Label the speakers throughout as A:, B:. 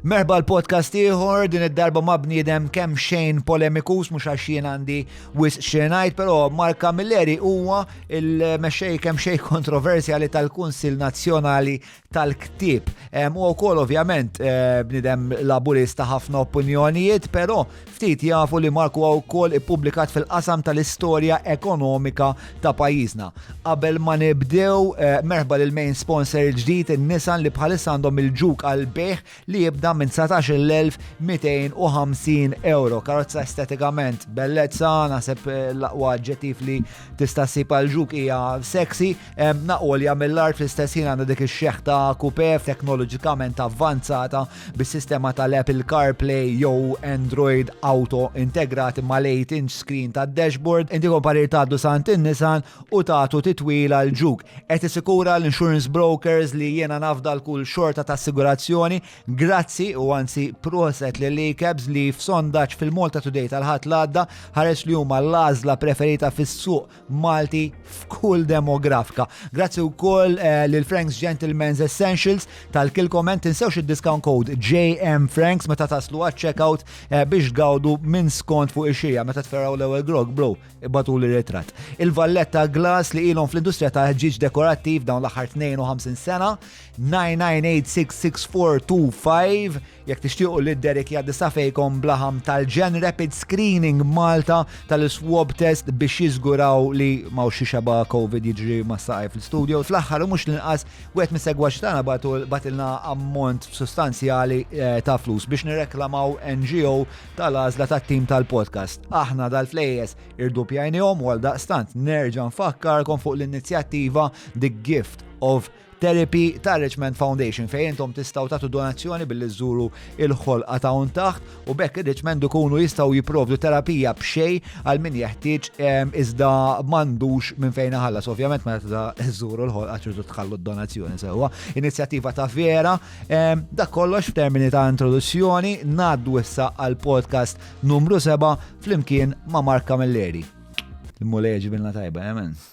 A: Merħba l-podcast ieħor din id-darba ma' bniedem kemm xejn polemikus mhux għax jien għandi wis xenajt, però Mark Camilleri huwa il-mexxej kemm xejn kontroversjali tal-Kunsil Nazzjonali tal-Ktieb. Huwa wkoll ovvjament eh, bniedem laburista ħafna opinjonijiet, però Ftit jafu li Marku ha wkoll ippubblikat fil-qasam tal-istorja ekonomika ta' pajjiżna. Qabel ma nibdew, eh, merħba lil main sponsor il-ġdid in-Nissan li bħalissa għandhom il-ġuk għal bejħ li jibda minn 19,250 euro. Karozza estetikament bellezza, naħseb eh, l-aqwa ġetif li tista' ssib għal ġuk hija sexy, eh, naqolja mill-art fl-istess ħin għandha dik ix-xeħta kupe teknoloġikament avvanzata bis-sistema tal-Apple CarPlay jew Android Auto integrati mal-8-inch screen tad-dashboard, inti komparir tgħaddu sant in-Nissan u tagħtu titwila l ġuk. Qed isikura l-insurance brokers li jiena nafda l-kull xorta ta' assigurazzjoni, grazzi u anzi proset li l-ICABs li f'sondaġġ fil-Malta Today tal-ħadd l-għadda ħares li huma l-għażla preferita fis-suq Malti f'kull demografika. Grazzi wkoll eh, lil Franks Gentleman's Essentials tal-kilkom hemm tinsewx id-discount code JM Franks meta taslu għaċ-checkout eh, biex gawdu minn skont fuq ix-xija meta tferraw l-ewwel grog bro ibatu li ritrat. Il-valletta glass li ilhom fl-industrija ta' ġiġ dekorattiv dawn l-aħħar 52 sena 9986642 Jekk tixtiequ li Derek jgħaddi safejkom blaħam tal-ġen Rapid Screening Malta tal-swab test biex jiżguraw li ma' xi xeba COVID jiġri ma' saqaj fil-studio. Fl-aħħar u mhux l-inqas wieħed mis-segwaċ tagħna batilna ammont sostanzjali eh, ta' flus biex nirreklamaw NGO tal-għażla tat-tim tal-podcast. Aħna dal-flejes irdupjajnihom u għal daqstant nerġa' nfakkarkom fuq l-inizjattiva The Gift of Therapy ta' Richmond Foundation fejn intom tistgħu tagħtu donazzjoni billi żżuru il-ħolqa ta' un taħt u bekk ir-Richmond ikunu jistgħu jipprovdu terapija b'xej għal min jeħtieġ ehm, iżda m'għandux minn fejn ħallas. Ovvjament meta żżuru l-ħolqa ċirdu tħallu d-donazzjoni sewwa. Inizjattiva ta' vera, ehm, dak kollox f'termini ta' introduzzjoni, ngħaddu issa għal podcast numru 7 flimkien ma' Mark Camilleri. Immu leġi bilna tajba, emen. Eh,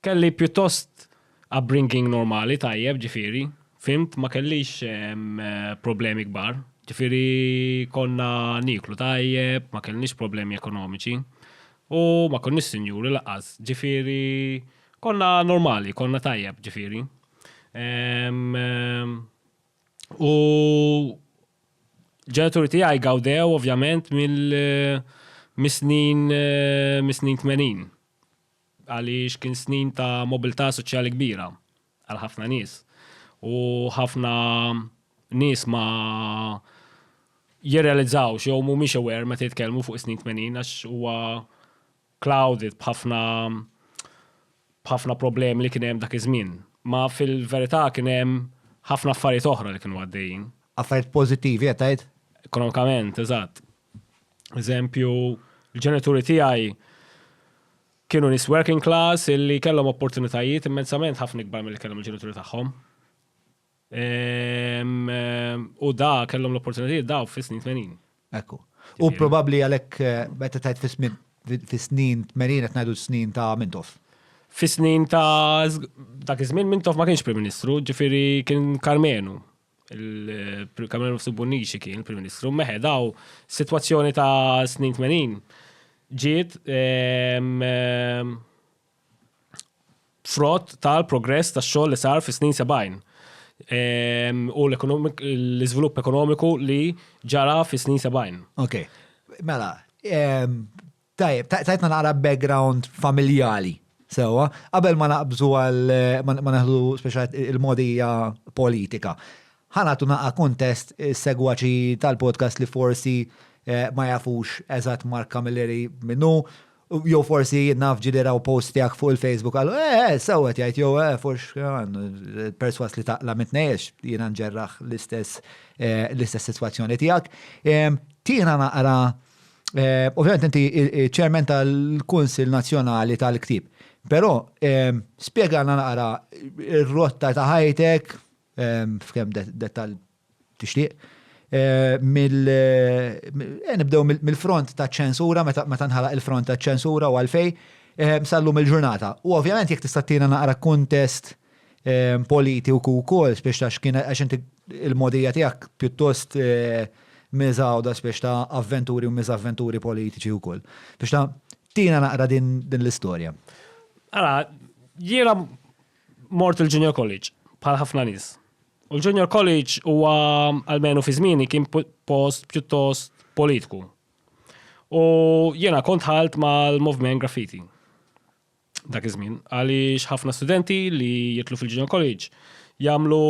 B: Kelli pjuttost upbringing normali, tajjeb, ġifieri, fhimt, ma kellix problemi kbar. Ġifieri konna nieklu tajjeb, ma kellniex problemi ekonomiċi. U ma konniex sinjuri lanqas, ġifieri konna normali, konna tajjeb, ġifieri. U l-ġenituri tiegħi gawdew ovvjament mis-snin mis-snin tmenin. għaliex kien snin ta' mobilità soċjali kbira għal ħafna nies u ħafna nies ma jirrealizzawx jew mhumiex aware meta jitkellmu fuq is-snin 80 għax huwa clouded b'ħafna b'ħafna problemi li kien hemm dak iż-żmien. Ma fil-verità kien hemm ħafna affarijiet oħra li kienu għaddejjin. Affarijiet pożittivi
A: qed tgħid? Ekonomikament,
B: eżatt. Eżempju, l-ġenituri tiegħi kienu nis working class illi kellhom opportunitajiet immensament ħafna ikbar mill kellhom il-ġenituri tagħhom. Ehm, ehm, u da kellhom l-opportunitajiet daw fis-snin 80. Ekku. U
A: probabbli għalhekk eh, meta tajt fis-snin 80 qed ngħidu snin ta' Mintoff. Fis-snin
B: ta' dak iż-żmien Mintoff ma kienx Prim Ministru, ġifieri kien Karmenu. il-Kamerun Fsubunniċi kien il-Prim Ministru, meħedaw situazzjoni ta' snin 80 ġiet ehm, ehm, frott tal-progress ta' xogħol li sar fis-snin 70 ehm, u l-iżvilupp ekonomiku li ġara fis-snin 70. Ok,
A: mela, Tajjeb, tajtna naqra background familjali, sewwa, qabel ma naqbżu għal ma neħdu speċjal il-modija politika. Ħanatu naqa' kuntest is-segwaċi tal-podcast li forsi eh, ma jafux eżatt Mark Camilleri minnu, jew forsi naf ġili raw post tiegħek fuq il-Facebook għal eh, eh sewwet jgħid jew eh fux eh, perswas li taqla mitnejx jiena nġerraħ l-istess eh, l-istess sitwazzjoni tiegħek. Tiena naqra Eh, ovvjament inti ċermen tal-Kunsil Nazzjonali tal-Ktib. Però eh, spjegana naqra r-rotta ta' ħajtek eh, f'kemm dettal tixtieq. mill nibdew mill-front ta' ċensura meta nħalaq il-front ta' ċensura u għalfej sallum il-ġurnata. U ovvjament jekk tista' tina naqra kuntest politi u kukol, spiex ta' xkina, għax inti il-modija tijak pjuttost eh, mizawda spiex ta' avventuri u mizavventuri politiċi u kol. Spiex ta' tina naqra din, din l-istoria. Għara,
B: jira mort il-junior college, bħal ħafna nis. U l-junior college huwa għalmenu fi zmini kien post pjuttost politiku. U jena kont ħalt mal-movement graffiti. dak iż-żmien. Għaliex ħafna studenti li jitlu fil-Junior College jagħmlu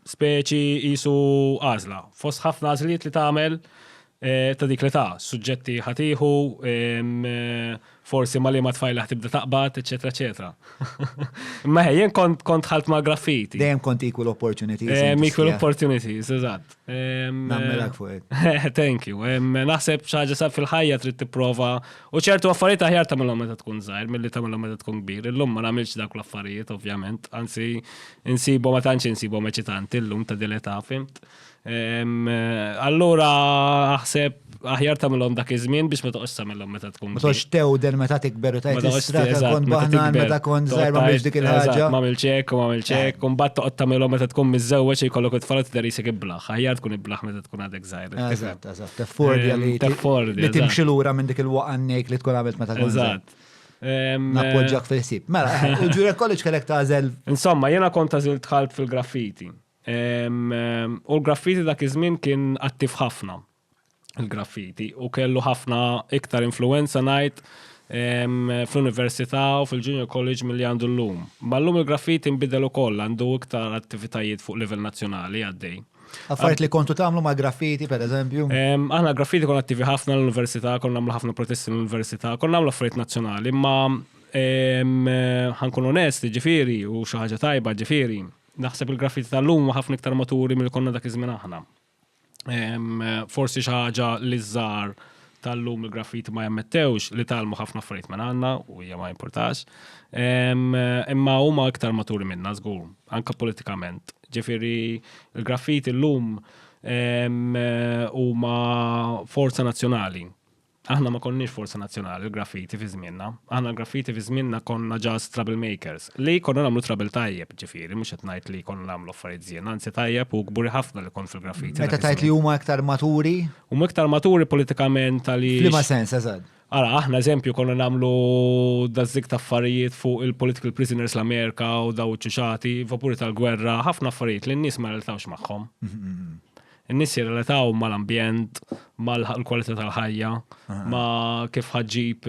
B: speċi qisu għażla. Fost ħafna għażliet li tagħmel eh, ta' dik li ta' suġġetti ħatiħu, eh, forsi ma li ma tfajla ħtibda taqbad, eċetera, eċetera. Imma jien kont kont ħalt ma' graffiti. Dejjem kont equal
A: opportunities. Equal opportunities,
B: eżatt. Nammelak
A: fuq it. Thank you.
B: Naħseb xaġa sa fil-ħajja trid tipprova u ċertu affarijiet aħjar tagħmilhom meta tkun żgħir milli tagħmilhom meta tkun kbir. Illum ma nagħmilx dak l-affarijiet ovvjament, anzi insibu ma tantx insibu eċitanti llum ta' dileta fimt. Allura aħseb aħjar tagħmilhom dak iż-żmien biex ma toqgħodx tagħmilhom meta tkun. Ma toqgħodx tewden meta
A: tikber u tajt strata tkun baħnan meta tkun żgħir ma biex dik il-ħaġa. Ma milċek u ma
B: milċek, eh. u mbagħad toqgħod tagħmilhom meta tkun miżżewweġ jkollok it-tfal tidher isek iblaħ. Aħjar tkun iblaħ meta tkun għadek żgħir. Eżatt, eżatt. Teffordi
A: ehm, li teffordi. Li timxi lura minn dik il-waqannejk li tkun għamilt meta tkun. Eżatt. Ehm, Nappoġġak fil-sib. Mela, il-Jura College kellek tażel. Insomma, jena kont
B: tażil tħalt fil-graffiti. U l-graffiti dak iż-żmien kien attiv ħafna il-graffiti u kellu ħafna iktar influenza ngħid fl-università u fil-junior college milli għandu llum. Ma llum il-graffiti nbidel ukoll għandu iktar attivitajiet fuq livell nazzjonali għaddej. Affarijiet li kontu
A: tagħmlu ma' graffiti pereżempju? Aħna graffiti konna
B: attivi ħafna l-università, konna nagħmlu ħafna protesti l-università, konna nagħmlu affarijiet nazzjonali, imma ħankun onest, ġifieri, u xi ħaġa tajba ġifieri. Naħseb il-graffiti tal-lum ħafna iktar maturi mill konna dak iż-żmien aħna. Forsi xi ħaġa li żar tal-lum il-graffiti ma jammettewx li talmu ħafna affarijiet minn għandna u hija ma importax. Imma huma iktar maturi minna żgur, anka politikament. Ġifieri il-graffiti l-lum huma forza nazzjonali Aħna ma konniex forza nazzjonali l-graffiti fi żmienna. Aħna l-graffiti fi żmienna konna ġast trouble makers. Li konna nagħmlu trouble tajjeb, ġifieri, mhux qed ngħid li konna nagħmlu affarijiet żien, anzi tajjeb u kburi ħafna li kont fil-graffiti. Meta tgħid li huma iktar
A: maturi? Huma iktar maturi
B: politikament għaliex. F'liema sens, eżatt?
A: Ara, aħna eżempju
B: konna nagħmlu dażżik ta' affarijiet fuq il-political prisoners l-Amerika u daw ċuċati, vapuri tal-gwerra, ħafna affarijiet li n-nies ma reltawx magħhom. In-nies jirrelataw mal-ambjent, mal-kwalità tal-ħajja, ma kif ħaġġib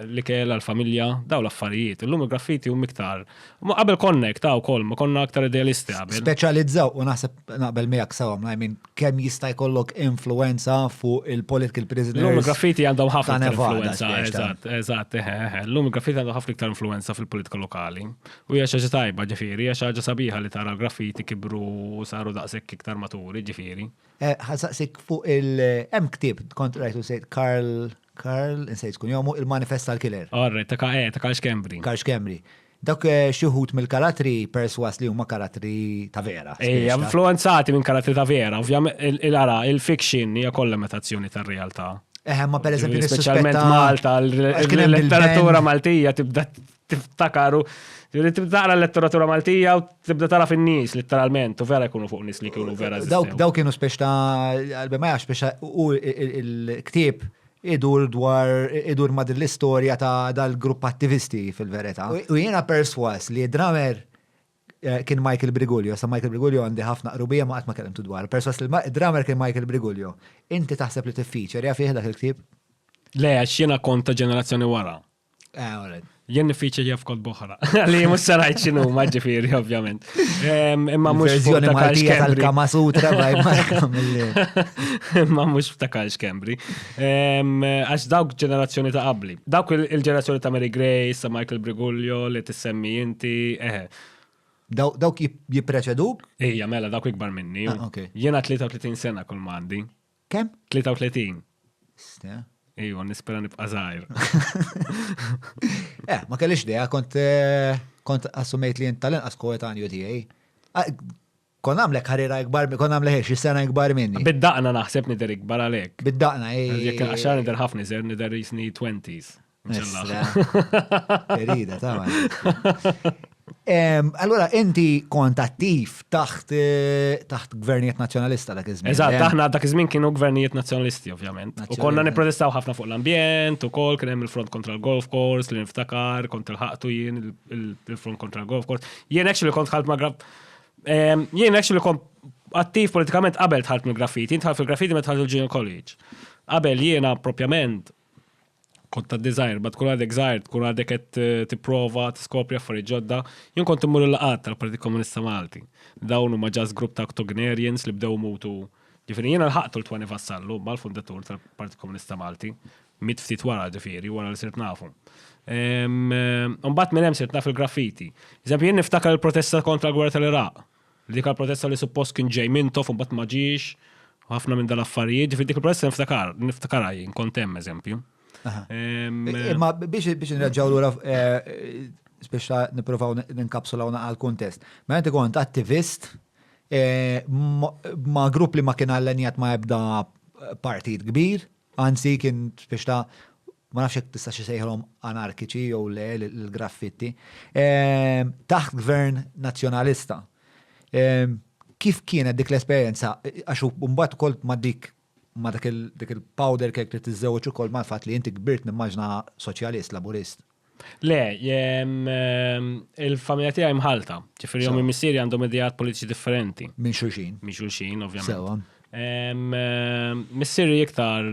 B: l-ikel għal-familja, daw l-affarijiet. Illum il-graffiti u miktar. Ma qabel konnek ta' wkoll, ma konna aktar idealisti qabel. Speċjalizzaw u naħseb naqbel
A: miegħek sewwa, I mean, kemm jista' jkollok influenza fuq il-political prisoners. Illum il-graffiti għandhom
B: ħafna influenza. Eżatt, eżatt, eħe, eħe. Illum il-graffiti għandhom ħafna iktar influenza fil-politika lokali. U hija xi ħaġa tajba, ġifieri, hija xi ħaġa sabiħa li tara l-graffiti kibru u saru daqshekk iktar maturi, ġifieri. Eh, ħasaqsik
A: fuq il- hemm ktieb kont rajtu sejt Karl Karl insejt kun jomu il-manifest tal-killer. Orre, ta' ka eh, ta' Karl
B: Xkembri. Karl Xkembri.
A: Dak eh, xi wħud mill-karatri perswas li huma karatri ta' vera. Ejja, influenzati minn
B: karatri ta' vera, ovvjament il-ara, il-fiction hija kollha metazzjoni tar-realtà. Eħe, ma per eżempju
A: Speċjalment Malta,
B: l-letteratura Maltija tibda tiftakaru, li tibda taqra l-letteratura Maltija u tibda tara fin-nies letteralment u vera jkunu fuq nies li kienu vera. Daw kienu spiex ta'
A: għalbi ma jafx biex u il-ktieb idur dwar idur ma' l-istorja ta' dal-grupp attivisti fil-verità. U jiena perswas li dramer eh, kien Michael Brigulio, sa Michael Brigulio għandi ħafna qrubija ma qatt ma kellimtu dwar. Perswas li dramer kien Michael Brigulio. Inti taħseb li tiffiċer jaf dak il-ktieb? Le, għax
B: jiena kont ta' ġenerazzjoni wara. Ah, alright. Jien nifiċi jaf kod boħra. Li mux sarajt xinu, maġġifiri, ovvjament. Imma mux verżjoni Maltija tal-Kama
A: Sutra, baj
B: Imma mux ftakar xkembri. Għax dawk ġenerazzjoni ta' qabli. Dawk il-ġenerazzjoni ta' Mary Grace, ta' Michael Briguglio, li tissemmi inti, eħe.
A: Dawk jipreċeduk? Ija, mela, dawk
B: ikbar minni. Ah, Jena 33 sena kol mandi. Kemm? 33.
A: Ste. Ejwa, nispera
B: nibqa' żgħir.
A: Eh, ma kellix dea, kont eh, kont assumejt li jint tal-inqas koetanju tiegħi. Ah, Kon għamlek ħarira ikbar, mi- kon għamlek xi sena ikbar minni. Bid-daqna naħseb nidher
B: ikbar għalhekk. Bid-daqna, Jekk
A: il-qaxar nidher
B: ħafna iżgħar nidher jisni 20s.
A: Ferida, ta' Allora, inti kont attiv taħt eh, taħt gvernijiet nazjonalista dak iż-żmien. Eżatt, aħna dak iż-żmien kienu
B: gvernijiet nazjonalisti, ovvjament. U konna nipprotestaw ħafna fuq l-ambjent, u kol kien hemm il-front kontra l-golf course, li niftakar, kont il-ħaqtu jien il-front kontra l-golf course. Jien actually kont ħalt ma' grab. Jien actually kont attiv politikament qabel tħalt mill-graffiti, tħalt fil-graffiti ma tħalt il-Junior College. Qabel jiena propjament kont ta' design, bat kun għadek zaħir, kun għadek għet eh, t-prova, t-skopri affari ġodda, jien kont immur l-laqat tal-Partit Komunista Malti. Dawnu ma ġas grupp ta' octogenarians li bdew mutu. Ġifiri, jien l-ħaqtu l-Twani Vassallu, ma l-fundatur tal-Partit Komunista Malti, mit ftit wara ġifiri, wara li sirt nafu. Umbat minn hemm sirt naf il-graffiti. Eżempju, jien niftakar il-protesta kontra l-gwerra tal-Iraq. Dik għall-protesta li suppost kien ġej Mintoff u mbagħad ma ġiex, u ħafna minn dal-affarijiet, ġifieri dik il-protesta niftakar, niftakarha jien, kont hemm eżempju.
A: Imma biex biex nirraġaw lura biex nipprovaw ninkapsulaw naqal kuntest. Ma inti kont attivist ma grupp li ma kien allenjat ma ebda partit kbir, Anzi, kien spiex ta', ma nafx jekk tistax isejħilhom anarkiċi jew le l-graffitti, taħt gvern Nazzjonalista. Kif kienet dik l-esperjenza? Għax mbagħad ukoll ma' dik ma' dik il-powder cake li tiżżewweġ ukoll mal-fatt li inti kbirt nimmaġina Soċjalist, Laburist. Le,
B: il-familja tiegħi mħalta, ġifieri jom missieri għandhom idejat politiċi differenti. Minn xulxin. Minn
A: xulxin, ovvjament. Sewa. Missieri
B: iktar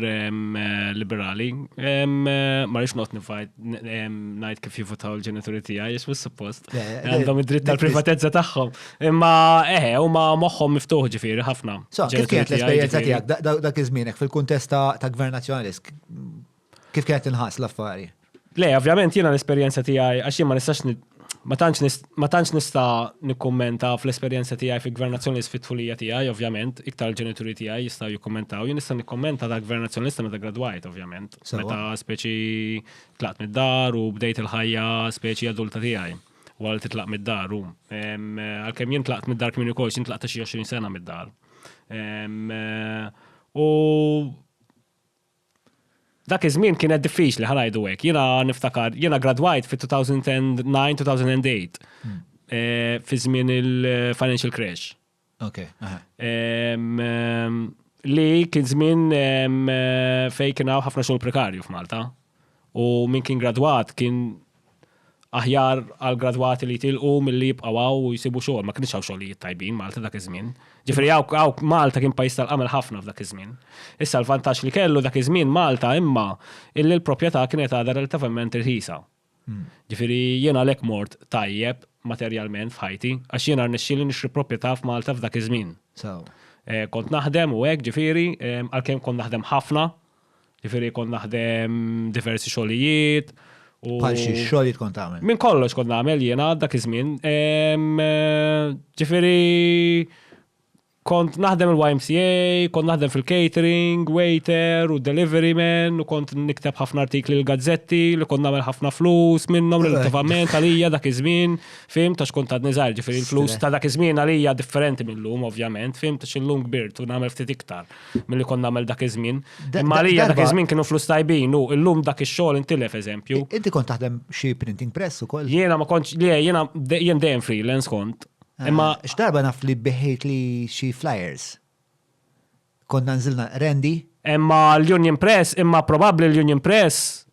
B: liberali, ma rix not nifajt ngħid kif jivutaw il-ġenituri tiegħi, jismu suppost. Għandhom id-dritt tal-privatezza tagħhom. Imma eħe, eh, huma moħħhom miftuħ ġifieri ħafna. Kif kienet l-esperjenza
A: tiegħek dak iż-żmienek fil-kuntest ta' gvern nazzjonalist? Kif kienet inħas l-affari? Le, ovvjament
B: jiena l-esperjenza tiegħi għax jien ma nistax ma tantx nista' nikkummenta fl-esperjenza tiegħi fi gvern nazzjonalist fit-tfulija tiegħi, ovvjament, iktar il-ġenituri tiegħi jistgħu jikkummentaw, jien nista' nikkummenta ta' gvern nazzjonalista meta gradwajt, ovvjament. Meta speċi tlaqt mid-dar u bdejt il-ħajja speċi adulta tiegħi. Wara li titlaq mid-dar, għalkemm jien tlaqt mid-dar kmini kol, jien tlaqt xi 20 sena mid-dar. U Dak iż-żmien kienet diffiċli, ħa ngħidu hekk. Jiena niftakar, jiena gradwajt fit-2009, 2008, fi żmien il-financial crash. Ok,
A: aha.
B: Li kien żmien fejn kien hawn ħafna xogħol prekarju f'Malta. U min kien gradwat kien Aħjar għall-gradwati li jitilqu milli jibqgħu hawn u jsibu xogħol. Ma kinitx hawn xogħlijiet tajbin Malta dak iż-żmien. Ġifieri hawn Malta kien pajjiż tal-qamel ħafna f'dak iż-żmien. Issa l-vantaġġ li kellu dak iż-żmien Malta imma illi l-propjetà kienet għadha relativament irħisa. Ġifieri jien għalhekk mort tajjeb materjalment f'ħajti għax jiena rnexxieli nixtri propjetà f'Malta f'dak iż-żmien. Kont naħdem u hekk ġifieri għalkemm kont naħdem ħafna. Ġifieri kont naħdem diversi xogħlijiet. Bħal xi
A: xogħlijiet kont tagħmel? Minn kollox kont nagħmel
B: jiena dak iż-żmien. Ġifieri kont naħdem il-YMCA, kont naħdem fil-catering, waiter u delivery man, u kont nikteb ħafna artikli l-gazzetti li kont nagħmel ħafna flus minnhom relattivament għalija dak iż-żmien, fim, tax kont għadni żgħir, ġifieri l-flus ta' dak iż-żmien għalija differenti mill-lum ovvjament, fim, tax illum kbirt u nagħmel ftit iktar. mill-li kon namel dak iż-żmien. Imma li dak iż-żmien kienu flus tajbin u llum dak ix-xogħol intilef eżempju. Inti kont taħdem xi
A: printing press ukoll? Jiena ma kontx li
B: jiena jien dejjem freelance kont. Ah, Imma x'darba naf li
A: biħejt li xi flyers. Konna nżilna Randy. Imma l-Union
B: Press, imma probabbli l-Union Press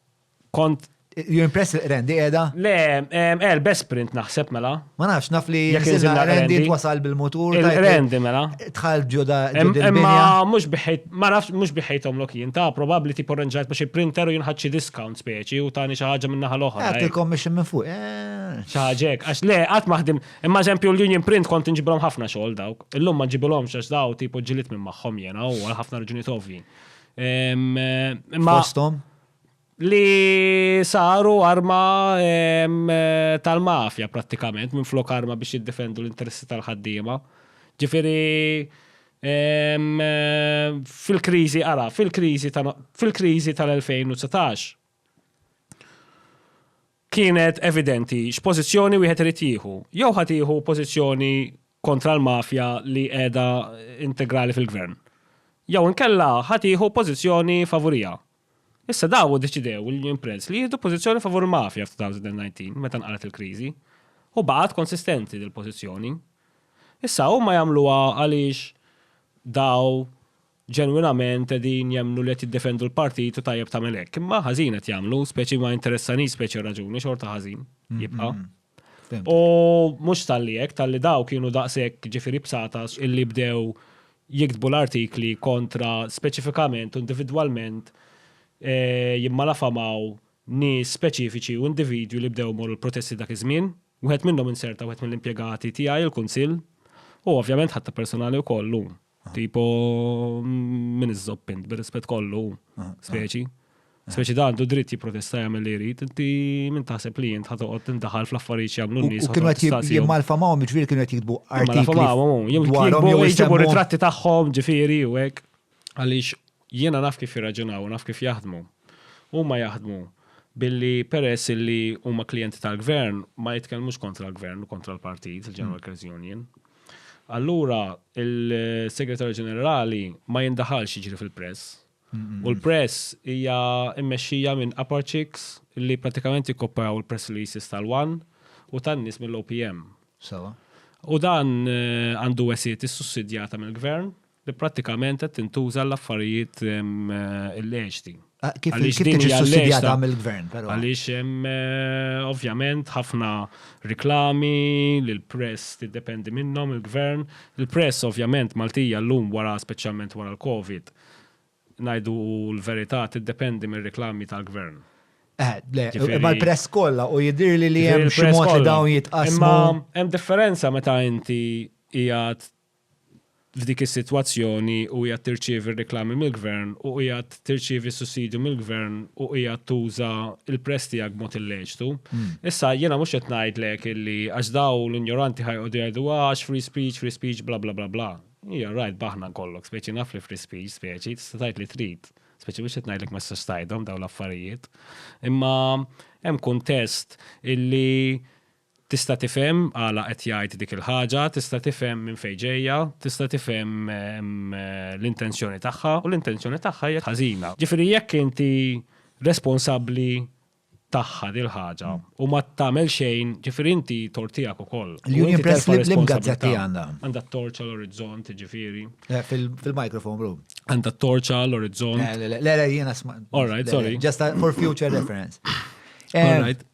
B: kont You impress
A: il-rendi edha? Le,
B: er, best print naħseb mela. Ma nafx, naf li
A: jisilna rendi twasal bil-motur. Rendi mela.
B: Tħal ġuda.
A: Imma mux
B: biħejt, ma nafx mux biħejtom lok jien, ta' probabli ti porrenġajt biex il-printer u jinħadxi discount speċi u tani xaħġa minna ħal-oħra. Għat il-commission minn fuq. Eh.
A: ċaħġek,
B: għax le, għat maħdim, imma eżempju l-union print kont nġibilom ħafna xogħol dawk. Illum ma ġibilom xax daw tipo ġilit minn maħħom jena u għal ħafna raġuniet ovvi. Fostom? li saru arma tal-mafja prattikament minflok arma biex jiddefendu l-interessi tal-ħaddiema. Ġifieri fil-kriżi ara, fil-kriżi fil-kriżi tal-2019 kienet evidenti x'pożizzjoni wieħed irid jieħu. Jew ħa tieħu pożizzjoni kontra l-mafja li qiegħda integrali fil-gvern. Jew inkella ħa tieħu pożizzjoni favuriha. Issa dawn iddeċidew, il-Union Press, li jieħdu pożizzjoni favur il-mafja f'2019 meta nqalgħet il-kriżi. U baqgħet konsistenti dil-pożizzjoni. Issa huma jagħmluha għaliex dawn ġenwinament qegħdin jemmnu li qed jiddefendu l-partit u tajjeb tagħmel hekk. Imma ħażin qed jagħmlu, speċi ma jinteressanix speċi r-raġuni, xorta ħażin jibqa'. U mhux talli hekk, talli daw kienu daqshekk ġifieri bsatas illi bdew jiktbu l-artikli kontra speċifikament u individwalment jimmalafamaw nies speċifiċi u individwi li bdew imorru l-protesti dak iż-żmien. Wieħed minnhom inserta wieħed mill-impjegati tiegħi, il-Kunsill, u ovvjament ħadtha personali wkoll llum. Tipo, minn iżżobb int, bir-rispett kollu, speċi. Speċi da għandu dritt jipprotesta jagħmel li jrid, inti minn taħseb li jint ħatoqgħod tindaħal fl-affarijiet jagħmlu n-nies. U kienu qed jimmalfa
A: magħhom ġifieri kienu qed jiktbu artikli. Jew
B: jitbu jġibu ritratti tagħhom ġifieri u hekk. Għaliex jiena naf kif jirraġunaw, naf kif jaħdmu. Huma jaħdmu billi peress li huma klijenti tal-gvern ma jitkellmux kontra l-gvern u kontra l-partit, il-General Workers Union. Allura il-Segretarju Ġenerali ma jindaħalx jiġri fil-press. U l-press hija mmexxija minn upper chicks li pratikament jikkopperaw il-press releases tal-One u tan-nies mill-OPM. Sewa. U dan eh, għandu wesiet issussidjata mill-gvern li prattikament qed tintuża għall-affarijiet illeċti. Ah, kif
A: tiġi sussidjata mill-gvern, però. Għaliex hemm
B: eh, ovvjament ħafna reklami li l-press tiddependi minnhom il-gvern. Il-press ovvjament Maltija llum wara speċjalment wara l-Covid ngħidu l-verità tiddependi mir-reklami tal-gvern. Eh, le,
A: imma l-press kollha u jidir li li hemm xi mod li dawn jitqasmu. Imma hemm
B: differenza meta inti qiegħed f'dik is-sitwazzjoni u qiegħed tirċievi r-riklami mill-gvern u qiegħed tirċievi s-sussidju mill-gvern u qiegħed tuża l-press tiegħek b'mod illeċtu. Issa jiena mhux qed ngħidlek illi għax dawn l-injoranti ħa joqogħdu jgħidu ah għax free speech, free speech bla bla bla bla. Ija rajt b'aħna nkollok, speċi naf li free speech, speċi tista' tgħid li trid. Speċi mhux qed ngħidlek ma tistax tgħidhom dawn l-affarijiet. Imma hemm kuntest illi Tista' tifhem għala qed jgħid dik il-ħaġa, tista' tifhem minn fejn ġejja, tista' tifhem l-intenzjoni tagħha, u l-intenzjoni tagħha hija ħażina. Ġifieri jekk inti responsabbli tagħha dil-ħaġa u ma tagħmel xejn, ġifieri inti tort tiegħek ukoll. L-Union Press
A: l-imgħadd gazzetta għandha. Għandha t-torċa
B: l-orizzont, ġifieri. Eh, fil-microphone
A: room. Għandha t-torċa
B: l-orizzont. Eh, le, le, jiena
A: sma. All right, sorry. Just
B: for future
A: reference. All eh, right.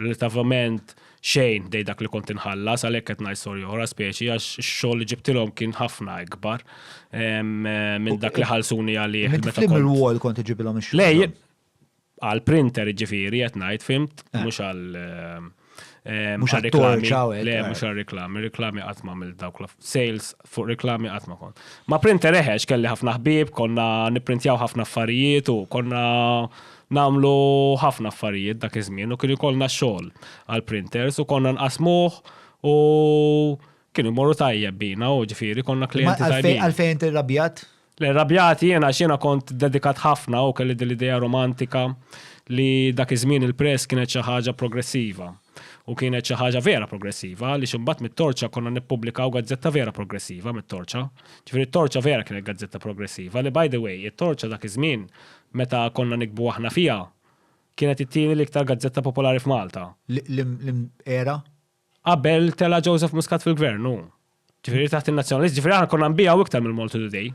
B: Relativament xejn dej dak li kont inħallas, għalhekk qed ngħid storja oħra speċi għax ix-xogħol li ġibtilhom kien ħafna ikbar minn dak li ħallsuni għalih. Meta kont il-wall kont
A: iġibilhom ix-xogħol. Lej,
B: għal printer ġifieri qed ngħid fimt, eh. mhux għal eh,
A: mhux għal reklami. Le, eh. mhux għal
B: reklami, reklami qatt ma' mill dawk sales fuq reklami qatt ma kont. Ma printer eħex kelli ħafna ħbieb, konna nipprintjaw ħafna affarijiet u konna namlu ħafna affarijiet dak iż-żmien u kien ikollna xogħol għal printers u konna nqasmuh u kienu jmorru tajjeb bina u ġifieri konna klijenti tajbin. Għalfejn tirrabjat?
A: Le, rrabjat
B: jien għax jiena kont dedikat ħafna u kelli din l-idea romantika li dak iż-żmien il-press kienet xi ħaġa progressiva. U kienet xi ħaġa vera progressiva għaliex imbagħad mit-Torċa konna nippubblikaw gazzetta vera progressiva mit-Torċa. Ġifieri t-Torċa vera kienet gazzetta progressiva li by the way it-Torċa dak iż-żmien meta konna niktbu aħna fiha kienet it-tieni l-iktar gazzetta popolari f'Malta. L-era
A: Qabel
B: tela' Joseph Muscat fil-Gvern, hu. Ġifieri taħt in-Nazzjonalist, ġifieri aħna konna nbigħu iktar mill-Malta Today.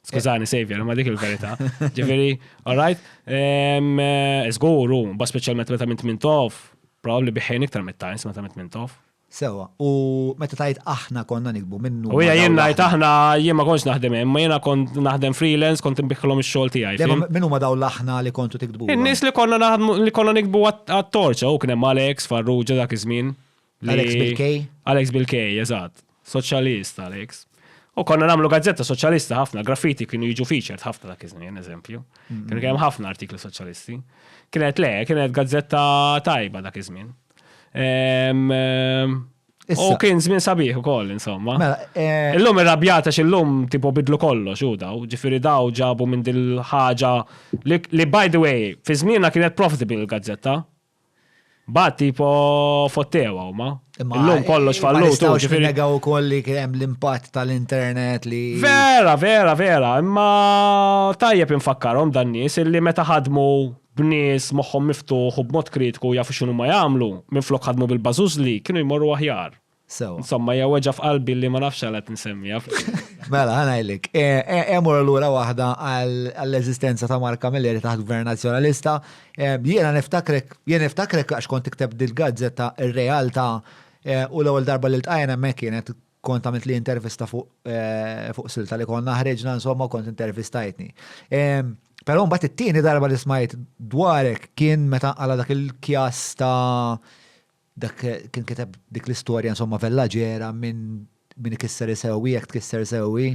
B: Skużani, Xavier, ma dik il-verità. Ġifieri, all right, ehm, eh, żgur hu, ba speċjalment meta minn Tmintof, probabbli biħejn iktar mit-Times meta minn Tmintof. Sewa, u
A: meta tajt aħna konna nikbu naħsbu minnu. U jien ngħid aħna
B: jien ma kontx naħdem hemm, ma jiena kont naħdem freelance, kont inbiħħilhom ix-xogħol tiegħi. Min huma dawn l-aħna
A: li kontu tiktbu? In-nies li konna naħdmu
B: li konna nikbu għat-torċa u kien hemm Alex, Farrugia dak iż-żmien. Alex Bilkej?
A: Alex Bilkej,
B: eżatt. Soċjalist Alex. U konna namlu gazzetta soċjalista ħafna, graffiti kienu jiġu featured ħafna dak iż-żmien, eżempju. Mm-hmm. Kienu kemm ħafna artikli soċjalisti. Kienet le, kienet gazzetta tajba dak iż-żmien. Ehm, ehm, U kien żmien sabiħ ukoll insomma. Mela, eh, illum irrabjata x'illum tipo bidlu kollox u daw, ġifieri daw ġabu minn din ħaġa li by the way, fi żmienna kienet profitable il-gazzetta. Bat tipo fottewa huma. Illum kollox eh, fallu tu ġifieri. Negaw ukoll
A: li kien hemm l-impatt tal-internet li. Vera, vera, vera,
B: imma tajjeb infakkarhom dan nies illi meta ħadmu b'nies moħħhom miftuħ u b'mod kritiku jafu x'inhuma jagħmlu, minflok ħadmu bil-bażużli, kienu jmorru aħjar. Sewwa. Insomma, hija weġgħa f'qalbi li ma nafx għala qed insemmiha. Mela, ħa
A: ngħidlek. Immorru lura waħda għall-eżistenza ta' Mark Camilleri taħt Gvern Nazzjonalista. Jiena niftakrek, jien niftakrek għax kont tikteb dil-gazzetta r-realtà u l-ewwel darba li ltqajna hemmhekk kienet kont għamilt li intervista fuq eh, fuq silta li konna ħreġna insomma kont intervistajtni. Però mbagħad it-tieni darba li smajt dwarek kien meta għala dak il-kjas ta' dak kien kiteb dik l-istorja insomma vellaġera minn min ikisser isewi, jekk tkisser sewi.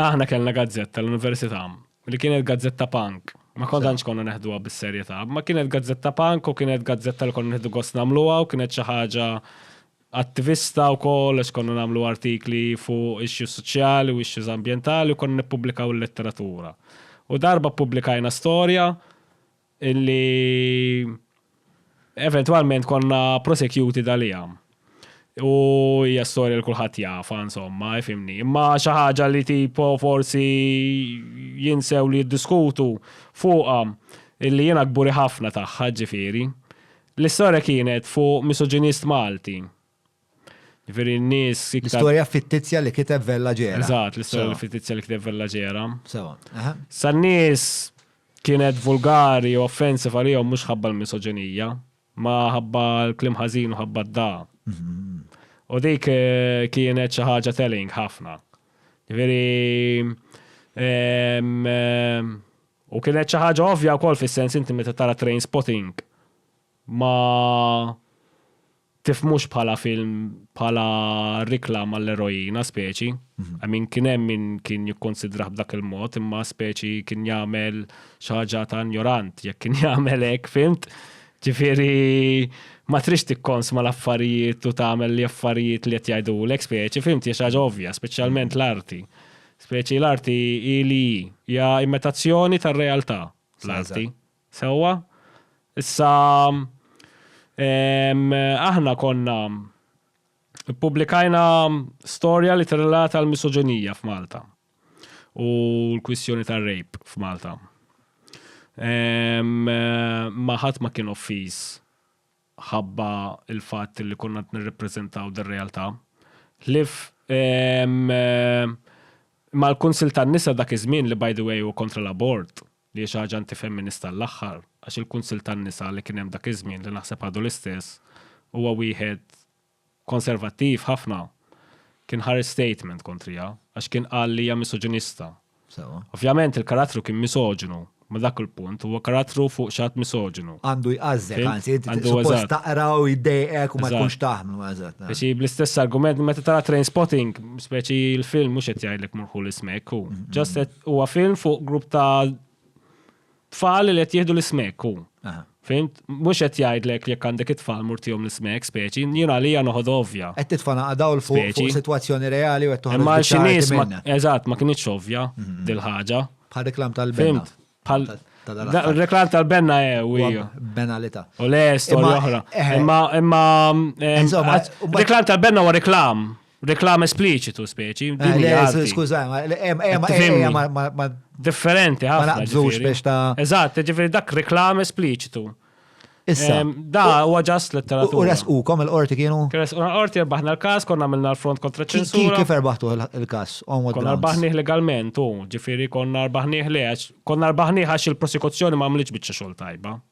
A: Aħna kellna
B: gazzetta l-Università li kienet gazzetta punk. Ma kontanx konna neħduha bis-serjetà, ma kienet gazzetta punk u kienet gazzetta li konna neħdu gost nagħmluha u kienet xi ħaġa attivista wkoll għax konna nagħmlu artikli fuq issues soċjali u issues ambjentali u konna nippubblikaw il-letteratura. U darba ppubblikajna storja illi eventwalment konna prosecuted għaliha. U hija storja li kulħadd jafha insomma, ifhimni. Imma xi ħaġa li tipo forsi jinsew li jiddiskutu fuqha illi jiena kburi ħafna tagħha ġifieri. L-istorja kienet fuq misoġinist Malti. Ġifieri n-nies iktar. L-istorja fittizja li
A: kiteb Vella Ġera. Eżatt, l-istorja fittizja
B: li kiteb Vella Ġera. Sewa, aha.
A: Sa n-nies
B: kienet vulgari u offensive għalihom mhux ħabba l-misoġinija, ma ħabba l-kliem ħażin u ħabba d-dagħa. U dik kienet xi ħaġa telling ħafna. Ġifieri U kienet xi ħaġa ovvja wkoll fis-sens inti meta tara Trainspotting ma tifhmux bħala film bħala riklam għall-eroina speċi. Mhm. I mean kien hemm min kien jikkonsidrah b'dak il-mod imma speċi kien jagħmel xi ħaġa ta' ignorant jekk kien jagħmel hekk fimt. Ġifieri ma trix tikkons ma l-affarijiet u tagħmel li affarijiet li qed jgħidulek speċi fimt hija xi ħaġa ovvja, speċjalment mhm. l-arti. Speċi l-arti hi li hi. Hija imitazzjoni tar-realtà, l-arti. Sewwa? Issa, aħna konna ppubblikajna storja li tirrelata l-misoġinija f'Malta u l-kwistjoni tar-rape f'Malta. Ma ħadd ma kien offiż. mħabba l-fatt li konna qed nirrappreżentaw din realtà. Ħlief mal-Kunsill tan-Nisa dak iż-żmien li by the way hu kontra l-abort li hi xi ħaġa anti-femminista għall-aħħar għax il-Kunsill tan-Nisa li kien hemm dak iż-żmien li naħseb għadu l-istess huwa wieħed konservattiv ħafna, kien ħareġ statement kontriha għax kien qal li hija misoġinista. Sewwa. Ovvjament il-karattru kien misoġinu, ma dak il-punt, huwa karattru fuq xi ħadd misoġinu. Għandu jqażżek, Fimt?
A: anzi, inti Għandu suppost eżatt. taqra u jiddejqek u ma Eżatt. tkunx taħmlu, eżatt. eh. Speċi bl-istess argument
B: meta tara Trainspotting, speċi l-film mhux qed jgħidlek murħu l-ismek hu. Ġast qed huwa film fuq grupp ta' Tfal li qed jieħdu l-ismek hu. Fimt? Mhux qed jgħidlek jekk għandek it-tfal murtihom l-ismek speċi, jien għalija noħod ovvja. Qed titfana għadaw l
A: fuq sitwazzjoni reali u qed toħroġ. Imma xi nies
B: eżatt ma kinitx ovvja mhm. dil-ħaġa. Bħal reklam
A: tal-benna. Bħal
B: reklam tal-benna eh, u hija. Benalita.
A: U le storja
B: oħra. Eh, eh. Imma imma reklam tal-benna u reklam. Reklam espliċitu speċi.
A: Skużaj, ma. Differenti,
B: għafna. Ma naqbżux biex ta'.
A: Eżatt, ġifiri dak
B: reklam espliċitu. Issa. Da, u għagħas letteratura. U resqukom il-qorti
A: kienu? Resquna l-qorti, rbaħna
B: l-kas, konna minna l-front kontra ċensura. Kif erbaħtu
A: l-kas? Konna rbaħniħ
B: legalment, u ġifiri konna rbaħniħ li għax, konna rbaħniħ għax il-prosekuzzjoni ma għamliċ bieċa xol tajba.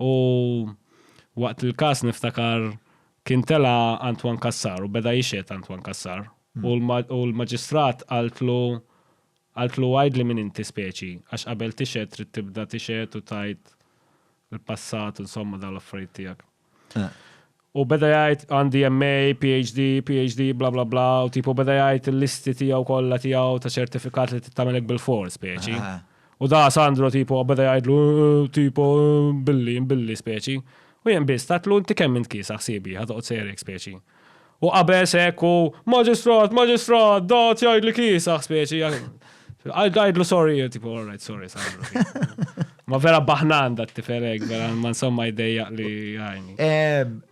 B: U waqt il-każ niftakar kien tela' Antoine Cassar u beda jixhed Antoine Cassar u l-maġistrat qaltlu qaltlu għidli min inti speċi għax qabel tixhed trid tibda tixhed u tgħid il-passat insomma dawn l-affarijiet tiegħek. U beda jgħid għandi MA, PhD, PhD, bla bla bla, u tipu beda jgħid il-listi tiegħu kollha tiegħu ta' ċertifikat li trid tagħmilek bil-fors, speċi. U da Sandro tipo beda jgħidlu tipo billi, billi, speċi. U jien biss tatlu inti kemm int kiesaħ ħsiebi, ħa toqgħod serjek, speċi. U qabeż hekk u maġistrat, maġistrat, dat jgħidli kiesaħ, speċi. I'll guide lu sorry, tipo, all right, sorry, sorry. Ma vera baħnan dat tiferek, vera ma insomma jdejja li għajni.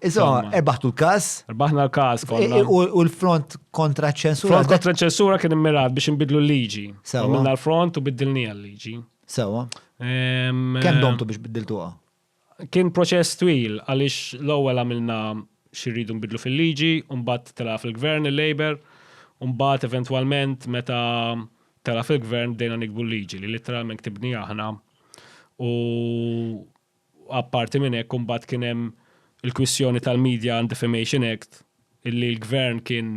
B: Iso,
A: erbaħtu l-kas? Erbaħna l-kas,
B: konna. U l-front
A: kontra ċensura? Front kontra ċensura kien
B: immirat biex nbidlu l-liġi. Minna l-front u biddilni l-liġi. Sewa.
A: Kem domtu biex biddiltuha? Kien
B: proċess twil għaliex l-ewwel għamilna xi rridu nbiddlu fil-liġi u mbagħad telgħa fil-Gvern il-Labour u mbagħad eventwalment meta telgħa fil-Gvern bdejna niktbu l-liġi li litteralment ktibniha aħna u apparti minn hekk u mbagħad kien hemm il-kwistjoni tal-Media and Defamation Act illi l-Gvern kien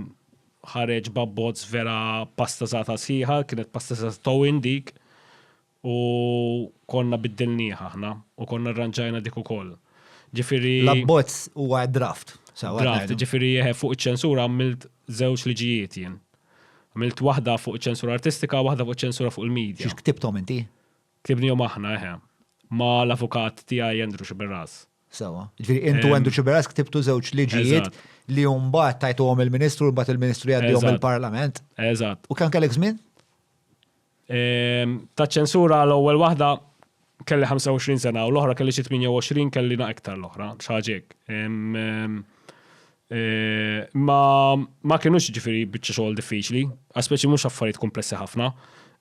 B: ħareġ b'abbozz vera pastasata sħiħa, kienet pastasata towin dik. U konna biddilniha aħna u konna rranġajna dik ukoll. Ġifieri. L-abbozz huwa
A: draft. Draft, ġifieri
B: fuq iċ-ċensura għamilt żewġ liġijiet jien. Għamilt waħda fuq iċ-ċensura artistika u waħda fuq iċ-ċensura fuq il-media. Xiex ktibthom inti?
A: Ktibnihom aħna,
B: eħe. Ma' l-avukat tiegħi Andrew Sciberras. Sewwa. Ġifieri
A: int u Andrew Sciberras ktibtu żewġ liġijiet li mbagħad tajtuhom il-Ministru u mbagħad il-Ministru jgħaddihom il-Parlament. Eżatt. U kemm kellek
B: żmien? Taċ-ċensura l-ewwel waħda kelli 25 sena u l-oħra kelli xi 28 kelli na iktar l-oħra, xi ħaġa hekk. Ma ma kinux ġifieri biċċa xogħol diffiċli, għax speċi mhux affarijiet kumplessi ħafna.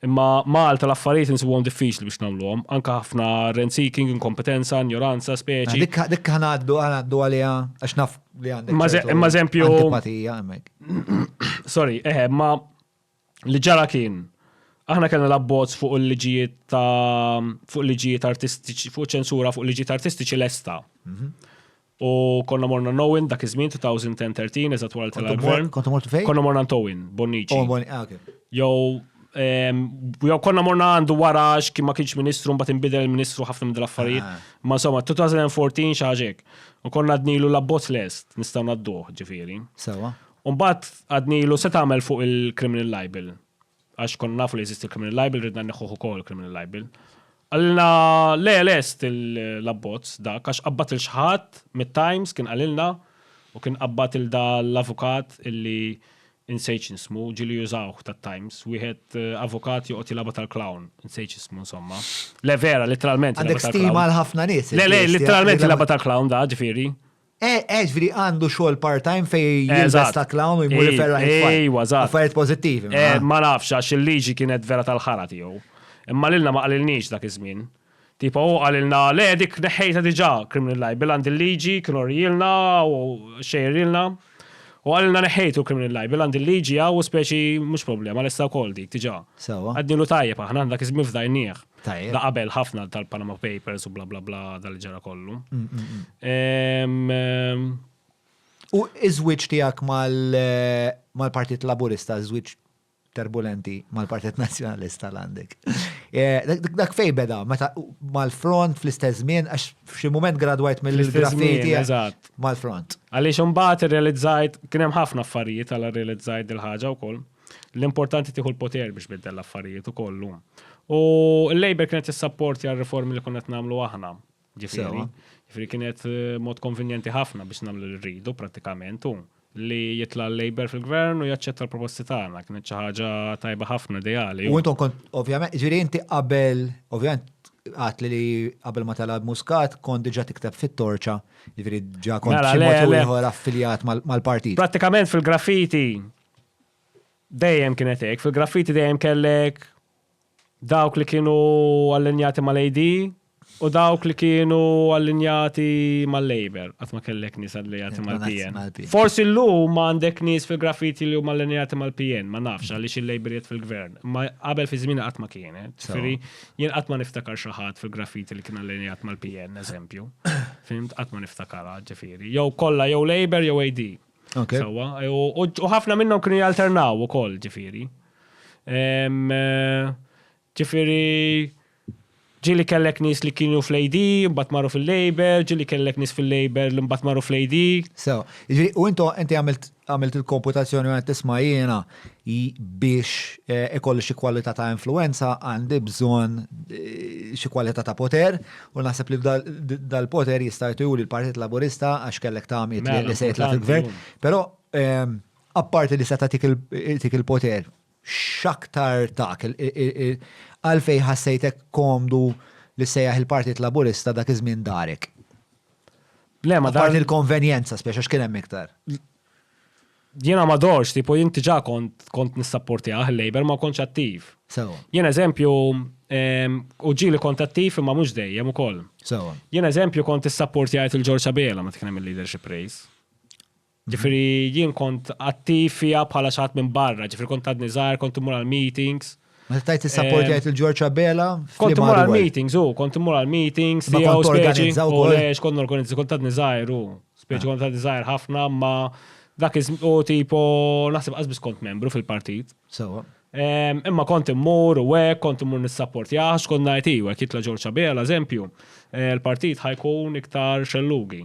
B: Imma Malta l-affarijiet insibuhom diffiċli biex nagħmluhom, anke ħafna rent seeking, inkompetenza, injoranza, speċi. Dik dik ħa ngħaddu
A: ħa ngħaddu għaliha għax naf li għandek. Imma eżempju.
B: Antipatija hemmhekk.
A: Sorry, eħe, imma
B: li ġara kien aħna kellna l-abbozz fuq il-liġijiet ta' fuq liġijiet artistiċi, fuq ċensura fuq liġijiet artistiċi lesta. Mhm. U konna morna Nowin dak iż-żmien 2010-13 eżatt wara tal-gvern. Kontu mort fejn? Konna morna
A: Towin, Bonnici.
B: Oh, ah,
A: jew
B: jew konna morna għandu wara x'kien ma kienx ministru mbagħad inbidel il-ministru ħafna minn affarijiet ah. Ma insomma 2014 xi ħaġek. U konna dnilu l-abbozz lest nistgħu nadduh ġifieri. Sewa. U
A: mbagħad
B: għadnilu se tagħmel fuq il-criminal libel. Għax konna nafu li jeżisti l-criminal libel, ridna neħħuh ukoll il-criminal libel. Għalilna le lest l-abbozz dak għax qabbat il xħat mit-Times kien għalilna u kien qabbat il da l-avukat illi insejt x'nismu, ġieli jużawh tat-Times, wieħed eh, avukat joqgħod jilaba tal-clown, insejt x'ismu insomma. Le vera, literalment. Għandek stima għal ħafna
A: nies. Le le, literalment jilaba
B: tal-clown da, ġifieri. Eh, eh, ġviri
A: għandu xogħol part-time fej jilbes Eżatt. ta' clown u jmur Ej- iferraħ it-tfal. ejwa, eżatt. Affarijiet pożittivi. Eh, ma. ma nafx għax
B: il-liġi kienet vera tal-ħara tiegħu. Imma lilna ma qalilniex dak iż-żmien. Tipo hu qalilna le dik neħħejta diġà criminal libel għand il-liġi kien orjilna u xejrilna. U qalilna neħħejtu criminal libel għand il-liġi hawn u speċi mhux problema lesta wkoll dik diġà. Sewwa. Għadnilu tajjeb aħna dak iż-żmien fdajnieh. Tajjeb. Da qabel ħafna tal-Panama Papers u bla bla bla dal ġara kollu. Mm, mm, mm. Em, em,
A: U iż-żwieġ tiegħek mal- eh, mal-Partit Laburista, żwieġ turbulenti mal-Partit Nazzjonalista l-għandek. Eh, dak- dak- Dak fej beda, meta mal-front fl-istess żmien, għax f'xi mument gradwajt Fl-istess mill-graffiti żmien, eżatt. mal-front. Għaliex imbagħad
B: irrealizzajt kien hemm ħafna affarijiet għal irrealizzajt dil-ħaġa wkoll. L-importanti tieħu l-poter biex biddel l-affarijiet u kollu. U l-Labor kienet s-sapport għal reformi li kunnet namlu aħna. Ġifiri, ġifiri kienet eh, mod konvenjenti ħafna biex namlu li rridu pratikament u li jitla l-Labor fil-gvern u jaċċetta l-proposti tagħna. Kienet xi ħaġa
A: tajba
B: ħafna
A: ideali.
B: U
A: intom kont, ovvjament, ġiri
B: inti
A: qabel,
B: ovvjament,
A: għat li qabel ma talab muskat kont diġa tikteb fit-torċa, ġifiri ġa kont mela, xi mod
B: affiljat
A: mal-partit. Pratikament fil-graffiti
B: Dejjem kienet hekk, fil-graffiti dejjem kellek dawk li kienu allinjati mal-AD u dawk li kienu allinjati mal-Labour, qatt ma kellek nies allinjati mal-PN. Forsi llum
A: ma
B: għandek nies fil-graffiti li huma allinjati mal-PN, ma nafx għaliex il-Labour qiegħed fil-gvern, imma qabel fi żmieni qatt ma kienet. Ġifieri jien qatt ma niftakar xi ħadd fil-graffiti li kien allinjat mal-PN, eżempju. Fhimt? Qatt ma niftakarha, ġifieri. Jew kollha jew Labour jew AD. Sawa, u ħafna minnhom kienu jalternaw ukoll ġifieri. Ġifieri ġili kellek nis li kienu fl-AD, mbatt marru fil-Labor, ġili kellek nis fil-Labor li mbatt marru fl-AD. Sewa, ġili,
A: u intu inti għamilt il-komputazzjoni għan tisma jiena, biex ikolli xi kwalità ta' influenza għandi bżonn xi kwalità ta' poter u naħseb li dal-poter jista' jturi l-Partit Laburista għax kellek ta' għamiet li mela, se jitlaq il-gvern. Però ehm, apparti li se tagħtik il-poter, x'aktar tak għalfej ħassejtek komdu li sejjaħ il-Partit Laburista dak iż-żmien darek.
B: Le, ma dar il-konvenjenza
A: speċa x'kien hemm iktar.
B: Jiena ma dorx, tipo jinti ġa kont kont nissapportjah il-Labour ma kontx attiv. Sewa. Jien eżempju, ehm, u ġili kont attiv imma mhux dejjem ukoll. Sewa. Jien eżempju
A: kont
B: issapportjajt il-Ġorġ Abela meta kien hemm il-leadership race. Ġifieri jien kont attiv fiha bħala xi ħadd minn barra, ġifieri kont għadni żgħir, kont immur għall-meetings. Meta tajt
A: is-sapportjajt il-Ġorġ Abela. Kont mur għal meetings,
B: u kont mur għal meetings, li għaw speċi.
A: U lex,
B: kont
A: organizzi, kont
B: ta' nizajr, u speċi ah. kont ta' nizajr ħafna, ma dak iż u tipo, naħseb għazbis kont membru fil-partit. Sewa.
A: Imma kont
B: immur u għek, kont immur nis-sapportjax, kont najti, u għek jitla Ġorġ Abela, eżempju, eh, l-partit ħajkun iktar xellugi.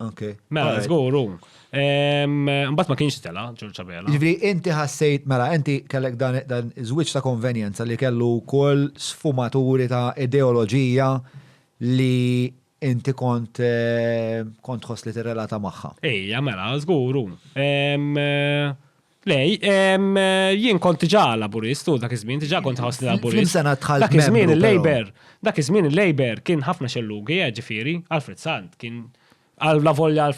B: Okay. Mela, let's
A: go,
B: room. Mbatt ma kienx tela, ġurċa bela. Ġivri, inti ħassejt,
A: mela, inti kellek dan iż-żwieġ ta' konvenjenza li kellu kol sfumaturi ta' ideoloġija li inti kont eh, kont ħoss li tirrelata magħha. Ejja, mela,
B: żguru. Eh, Le, jien kont diġà laburist u dak iż-żmien diġà kont ħossni laburist. Dak iż-żmien
A: il-Labour, dak iż-żmien
B: il-Labour kien ħafna xellugi, eh, ġifieri, Alfred Sant kien għal la volja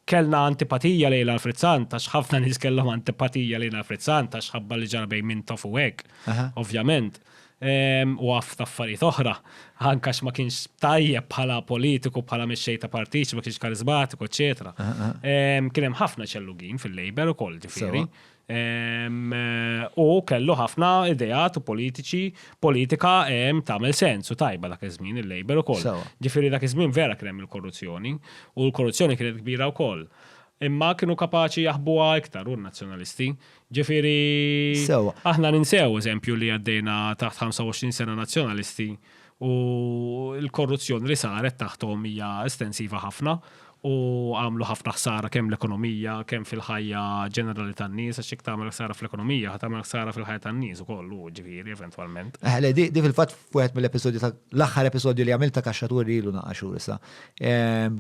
B: kellna antipatija lejn Alfred Sant għax ħafna nies kellhom antipatija lejn Alfred Sant għax ħabba li ġara bejn Mintoff u hekk, ovvjament. u għaff ta' affarijiet oħra, anke għax ma kienx tajjeb bħala politiku, bħala mexxej ta' partit, ma kienx kariżmatiku, eċċetera. Kien hemm ħafna ċellugin fil-Labour ukoll, ġifieri. U kellu ħafna ideat u politiċi, politika tagħmel sens u tajba dak iż-żmien il-Labour ukoll. Ġifieri dak iż-żmien vera kien hemm il-korruzzjoni u l-korruzzjoni kienet kbira wkoll. Imma kienu kapaċi jaħbuha iktar u n-Nazzjonalisti. Ġifieri, aħna ninsew eżempju li għaddejna taħt 25 sena Nazzjonalisti u l-korruzzjoni li saret taħthom hija estensiva ħafna u għamlu ħafna ħsara kemm l-ekonomija, kemm fil-ħajja ġenerali tan-nies, għax jekk tagħmel ħsara fl-ekonomija, ħa tagħmel ħsara fil-ħajja tan-nies ukoll, ġifieri, eventwalment. Eħe, di fil-fatt
A: f'wieħed mill-episodji ta' l-aħħar episodju li għamilt ta' Kaxxa Turi ilu naqgħa xhur issa.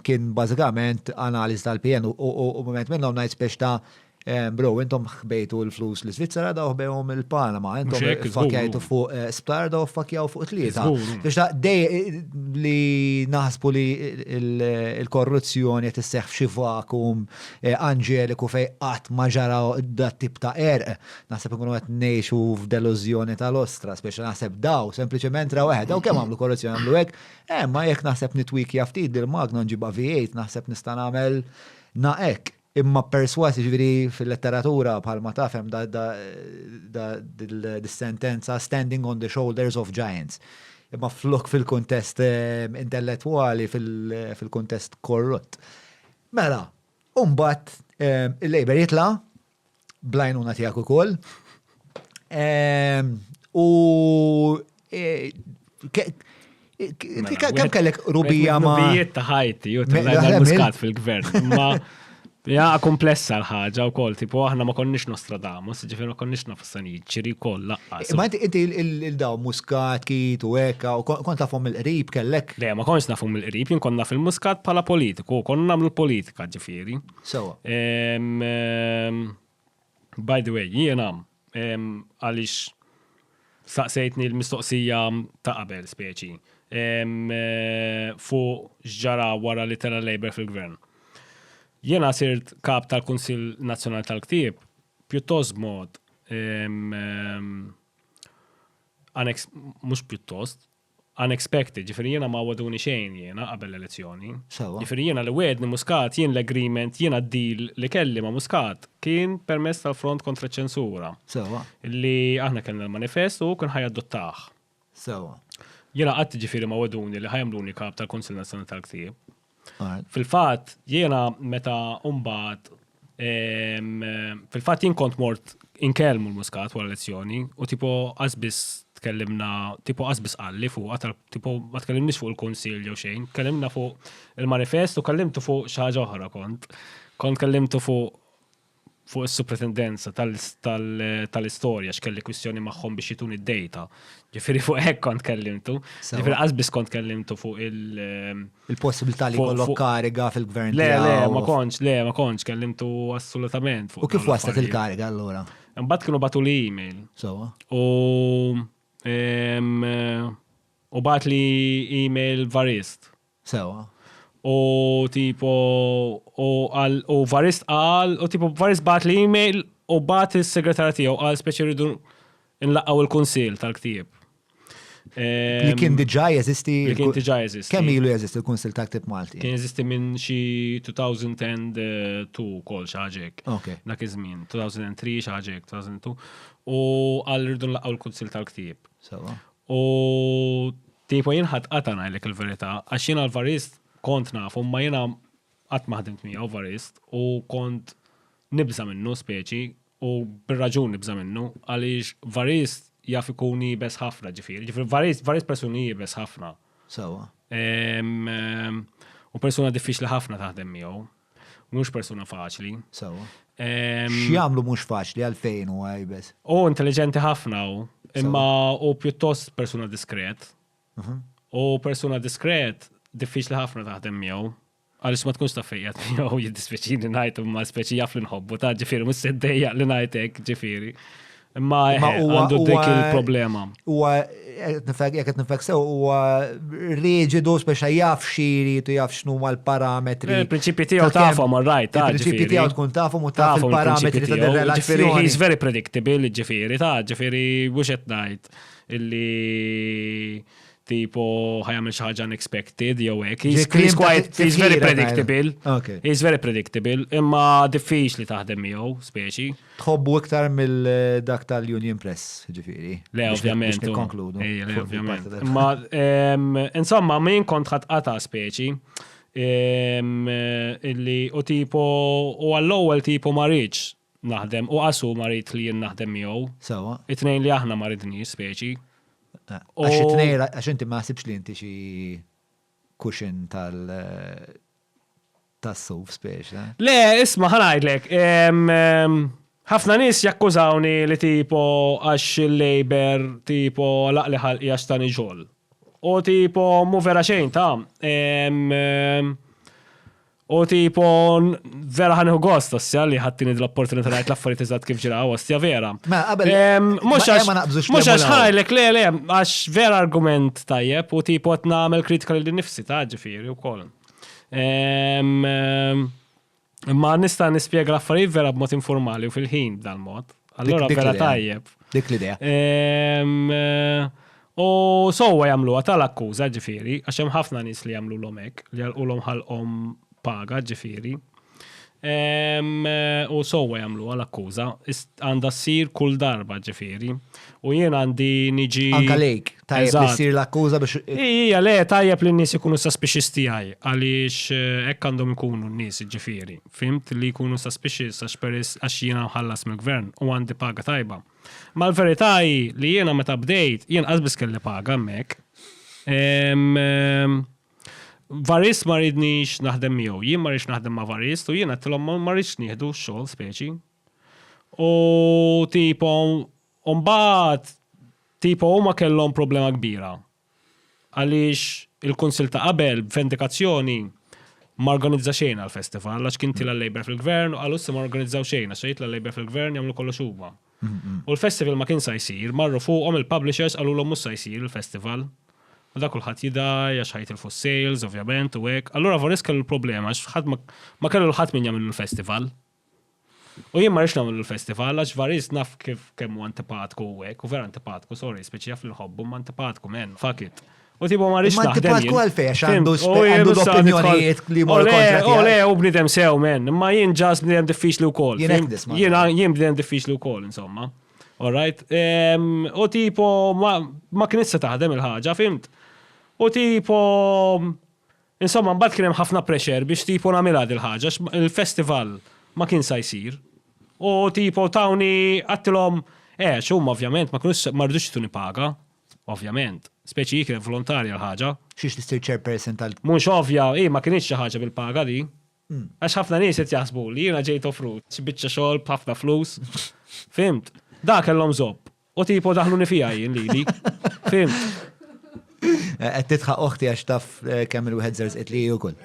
A: Kien bażikament analiżi tal-PN u mument minnhom ngħid spiex ta' Eh, bro, intom ħbejtu l-flus li Svizzera daw ħbejhom il-Panama, intom fakjajtu fuq eh, sptar daw fakjaw fuq tlieta. Biex ta' dej eh, li naħsbu li il-korruzzjoni qed isseħħ f'xi vakum anġeliku fej qatt ma ġara dat tip ta' erq. Naħseb ikunu qed ngħixu f'delużjoni tal-ostra, speċi naħseb daw, sempliċement raw eħed, daw kemm għamlu korruzzjoni għamlu hekk, ma jekk naħseb nitwikja ftit dil-magna nġibha V8 naħseb nista' nagħmel naqek. Imma persważ, jiġifieri fil-letteratura bħalma taf hemm dis-sentenza standing on the shoulders of giants. Imma flok fil-kuntest intellettwali, fil-kuntest korrott. Mela, u mbagħad il-Labour jitla' Blajnuna tijak u koll. U eh, mela, kem
B: kellek rubija ma.
A: Rubijiet ta'
B: ħajti, u
A: t-lajna
B: muskat fil-gvern.
A: Ma
B: ja komplessa l-ħagġa u koll, tipo aħna ma konniex Nostradamus, ġifir ma konniex nafassan jġiri koll laqqa. Ma inti
A: il-daw muskat, kit u eka, u kont nafum il-qrib kellek. Le, ma konniex nafum il-qrib,
B: jien konna fil-muskat pala politiku, konna namlu politika ġifiri. Sewa. By the way, jiena għaliex staqsejtni l-mistoqsija ta' qabel speċi fuq x'ġara wara li tela' Labour fil-gvern. Jiena sirt kap tal-Kunsill Nazzjonali tal-Ktieb pjuttost b'mod mhux pjuttost, unexpected, ġifieri jiena ma wegħduni xejn jiena qabel l-elezzjoni. Sewwa. Ġifieri jiena li wegħedni Muscat, jien l-agreement, jiena d-deal li kelli ma' Muscat kien permezz tal-Front Kontra ċ-Ċensura. Sewwa. Li
A: aħna
B: kellna l-manifest u hu kien ħa jadottah. Sewwa.
A: Jiena qatt
B: ġifieri ma wegħduni li ħa jagħmluni Kap tal-Kunsill Nazzjonali tal-Ktieb. Fil-fatt, jiena meta mbagħad fil-fatt jien kont mort inkellmu l-Muscat wara lezzjoni u tipo qasbis tkellimna tipo qasbis qalli fuq tal tipo ma tkellimniex fuq il-kunsill jew xejn, tkellimna fuq il-manifest u kellimtu fuq xi ħaġa oħra kont. Kont kellimtu fuq fuq is-supretendenza tal-istorja x'kelli kwistjoni magħhom biex jituni d-data. Ġifieri fuq hekk kont kellimtu. Ġifieri qasbis kont kellimtu fuq il- ehm, Il-possibilità
A: li jkollok kariga fil-gvern. Le, le, ma kontx,
B: le, ma kontx kellimtu assolutament fuq. U kif waslet
A: il-kariga allura? Mbagħad kienu batu li
B: email. Sewa. U
A: ehm,
B: u bat li email varist. Sewwa.
A: U
B: tipo u qal u Varist qal u tipo Varist bagħatli email u bagħat is-segretarja tiegħu qal speċi rridu nlaqgħu il-kunsill tal-ktieb.
A: Li kien diġà jeżisti. Li kien diġà jeżisti.
B: Kemm ilu jeżisti l-Kunsill
A: ta' Ktib Malti? Kien jeżisti minn xi
B: 2002 kol xi ħaġa hekk. Okay. Dak iż-żmien, 2003 xi ħaġa hekk, 2002. U qal rridu nlaqgħu l-Kunsill tal-Ktieb. Sewa. U Tipo jien ħadd qata' ngħidlek il-verità għax jiena l-varist kont nafu imma jiena qatt ma ħdimt miegħu varist u kont nibża' minnu speċi u bir-raġun nibża' minnu għaliex varist jaf ikun iebes ħafna ġifieri. Ġifieri varist varist persuna li iebes ħafna. Sewwa. U persuna diffiċli ħafna taħdem miegħu. Mhux persuna faċli. Sewa.
A: X'jagħmlu mhux faċli għalfejn u għajbes? U intelligenti
B: ħafna u imma u pjuttost persuna diskret. Mhm. U persuna diskret diffiċli ħafna taħdem miegħu. Għaliex ma tkunx ta' fejjat miegħu jiddispjaċini ngħid imma speċi jaf li nħobbu ta' ġifieri mhux seddejja li ngħidek ġifieri. Imma għandu dik il-problema. Huwa
A: jekk qed nifek sew huwa riġidu speċa jaf xiri tu jaf x'nu l-parametri. Eh, il-prinċipji tiegħu
B: tafhom right, ta' il-prinċipji tiegħu tkun tafhom u
A: taf il-parametri ta' relazzjoni. He's very predictable,
B: ġifieri, ta' ġifieri mhux qed ngħid illi tipo ħajam xi ħaġa unexpected jew hekk. He's quite he's very predictable. He's very predictable, imma diffiċli taħdem miegħu speċi. Tħobbu iktar
A: mill dak tal-Union Press, ġifiri. Le, ovvjament.
B: Nikkonkludu. Ma, insomma, min kont ħat qata speċi illi u tipo u għall-ewwel tipo ma rridx naħdem u qasu ma rrid li jien naħdem miegħu. Sewa. It-tnejn li
A: aħna ma
B: ridniex speċi. Eh, għax
A: it-tnejn għax inti ma ħsibx li inti xi kuxin tal Tas-suf speċi. Le, isma' ħa
B: ngħidlek, ħafna nies jakkużawni li tipo għax il-Labour tipo għalaqli ħalqi għax tani xogħol. U tipo mhu vera xejn ta'. U tipo vera ħa nieħu gost ostja li ħaddtini l-opportunità ngħid l-affarijiet eżatt kif ġraw ostja vera. Mhux għax mhux għax ħajlek le le għax vera argument tajjeb u tipo qed nagħmel kritika lil nifsi ta' ġifieri wkoll. Ma nista' nispjega l-affarijiet vera b'mod informali u fil-ħin dal-mod. Allora vera tajjeb. Dik l-idea. U sowa jagħmlu għata l-akkuża ġifieri, għax hemm ħafna nies li jagħmlu l-omek, li jgħalqulhom ħalqhom paga ġifieri. U sowa jamlu għal akkuża, għanda s-sir kull darba ġifiri. U jien għandi niġi. Anka lejk, tajjeb
A: li s-sir l-akkuża biex. Ija, le, tajjeb
B: li n-nis ikunu suspicious tijaj, għalix eh, ekk għandhom ikunu n-nis ġifiri. Fimt li ikunu suspicious għax peris għax jien għamħallas mill-gvern u għandi paga tajba. Ma l-veritaj li jiena meta bdejt, jien għazbis kelli paga mek. Varist ma riednix naħdem miegħu, jien ma rridx naħdem ma' Varist u jien għedtilhom ma rridx nieħdu x-xogħol speċi. U tipo u mbagħad tipo huma kellhom problema kbira. Għaliex il-kunsill ta' qabel b'vendikazzjoni ma organizza xejn għall-festival għax kien tilha' Labour fil-Gvern u qalu issa ma norganizzaw xejn għax jitla' Labour fil-Gvern jagħmlu kollox huma. U l-festival ma kien sa jsir, marru fuqhom il-publishers qalulhom mhux sa jsir il-festival. U dak kulħadd jidgħi għax ħa jitilfu s-sales ovvjament u hekk. Allura Voris kellu l-problema għax ħadd ma ma kellu l-ħadd min jagħmillu l-festival. U jien ma rridx nagħmillu l-festival għax Varis naf kif kemm hu antipatku u hekk, hu vera antipatku, sorry, speċi jaf li nħobbu imma antipatku, man, fuck it. U tibu ma rix naħdem. Ma tibu għalfej, għax għandu
A: għandu l-opinjonijiet li mor kontra. U le, u bnidem sew,
B: men. Ma jien ġas bnidem diffiċli u kol. Jien bnidem diffiċli u kol, insomma. Alright? U tipo, ma knissa taħdem il-ħagġa, fimt? U tipo, insomma, mbagħad kien hemm ħafna pressure biex tipo nagħmilha il ħaġa il-festival ma kien sa jsir. U tipo tawni għattilhom, eh, xumma ovvjament ma kienux ma rridux tuni paga, Ovvjament. Speċi hi kienet volontarja l-ħaġa. Xiex tissir chairperson
A: tal. Mhux ovvja, hi ma
B: kinitx xi ħaġa bil-paga di. Għax ħafna nies qed jaħsbu li jiena ġejt offrut xi biċċa xogħol b'ħafna flus. Fhimt? Da kellhom żopp. U tipo daħluni fiha jien lili. Fhimt?
A: Qed titħaq oħti għax taf eh, kemm il-wieħed żerż qed li ukoll.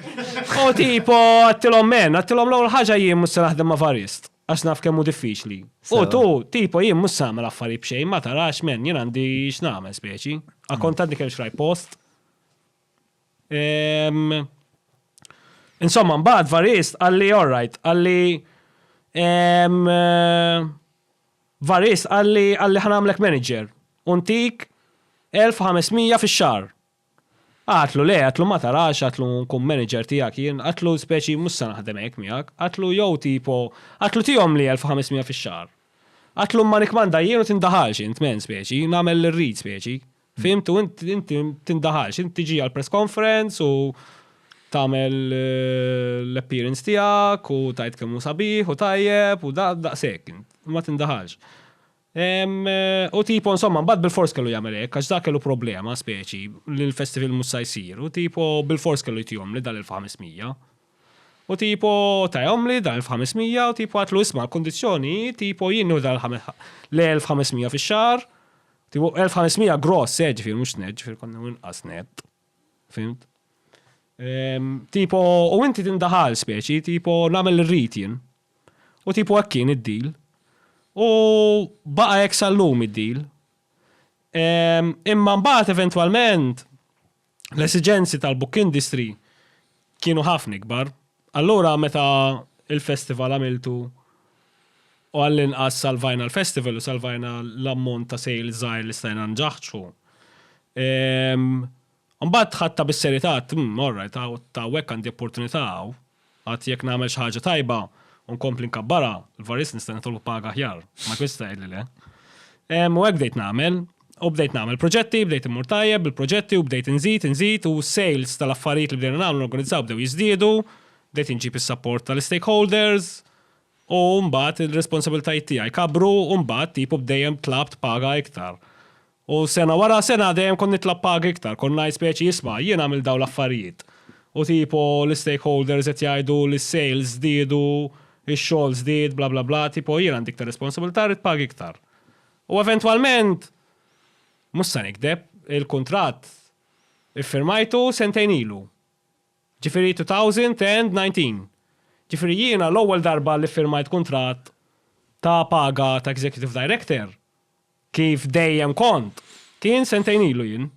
A: U tipo
B: għattilhom men, għattilhom l-ewwel ħaġa jien mhux se naħdem ma' varist. Għax naf kemm hu diffiċli. U tu, tipo jien mhux samel affarijiet b'xejn, ma tarax men, jien għandi x'nagħmel speċi. Akkont għadni kemm xraj post. Ehm, insomma, mbagħad varist għalli alright, għalli ehm, eh, varist għalli għalli ħanamlek manager. Untik 1500 fix-xahar. Għatlu, Le, għatlu ma tarax, għatlu nkun manager tiegħek jien, għatlu speċi mhux se naħdem hekk miegħek, għatlu jew tipo, għatlu tihomli elf u ħames miegħa fix-xahar. Għatlu imma nikkmanda jien u tindaħalx int, men speċi, nagħmel li rrid speċi. Fhimt u int inti tindaħalx, int tiġi għall-press conference u tagħmel l-appearance tiegħek u tgħid kemm hu sabiħ u tajjeb u da, daqshekk int, imma tindaħalx. U tipo insomma mbagħad bilfors kellu jagħmel hekk għax dak kellu problema speċi li l-festival mhux sa jsir u tipo bilfors kellu jtihomli dan il-500. U tipo tahomli dan il-500 u tipo għidtlu isma' l-kundizzjoni hi tipo jien nieħu dan l-1500 fix-xahar, tipo 1500 gross eh ġifieri mhux nett ġifieri kont nieħu inqas nett. Fhimt? Tipo u inti tindaħal speċi tipo nagħmel li rrid jien. U tipu hekk kien id-deal. U baqa' hekk sal-lum id-deal. Ehm, imma mbagħad eventwalment l-esiġenzi tal-book industry kienu ħafna ikbar. Allura meta il-festival għamiltu u għall-inqas salvajna l-festival u salvajna l-ammont ta' sales żgħir li stajna nġaħġħu. Ehm, Mbagħad ħadtha bis-serjetà għedt, Hm, all right, hawn ta' hawnhekk għandi opportunità hawn. Għad jekk nagħmel xi ħaġa tajba u nkompli nkabbarha, l-varist nista' nitolbu paga aħjar. Ma jkunx jista' jgħidli le. Ehm, u hekk bdejt nagħmel. U bdejt nagħmel proġetti, bdejt immur tajjeb bil-proġetti u bdejt inżid, inżid u s-sales tal-affarijiet li bdejna nagħmlu norganizzaw bdew jiżdiedu, bdejt inġib is-sapport tal-istakeholders u mbagħad ir-responsabilitajiet tiegħi kabru u mbagħad tipu b'dejjem tlabt paga iktar. U sena wara sena dejjem kont nitla' pagi iktar, kont ngħid speċi isma' jien għamilt dawn l-affarijiet. U tipo l-istakeholders qed jgħidu li s-sales żdiedu, ix-xogħol żdied, bla bla bla, tipo jien għandi iktar responsabilità rrid pagi iktar. U eventwalment, mhux se nikdeb, il-kuntratt iffirmajtu sentejn ilu. Ġifieri 2019. Ġifieri jiena l-ewwel darba li ffirmajt kuntratt ta' paga ta' executive director, Kif dejjem kont. Kien sentejn ilu jien.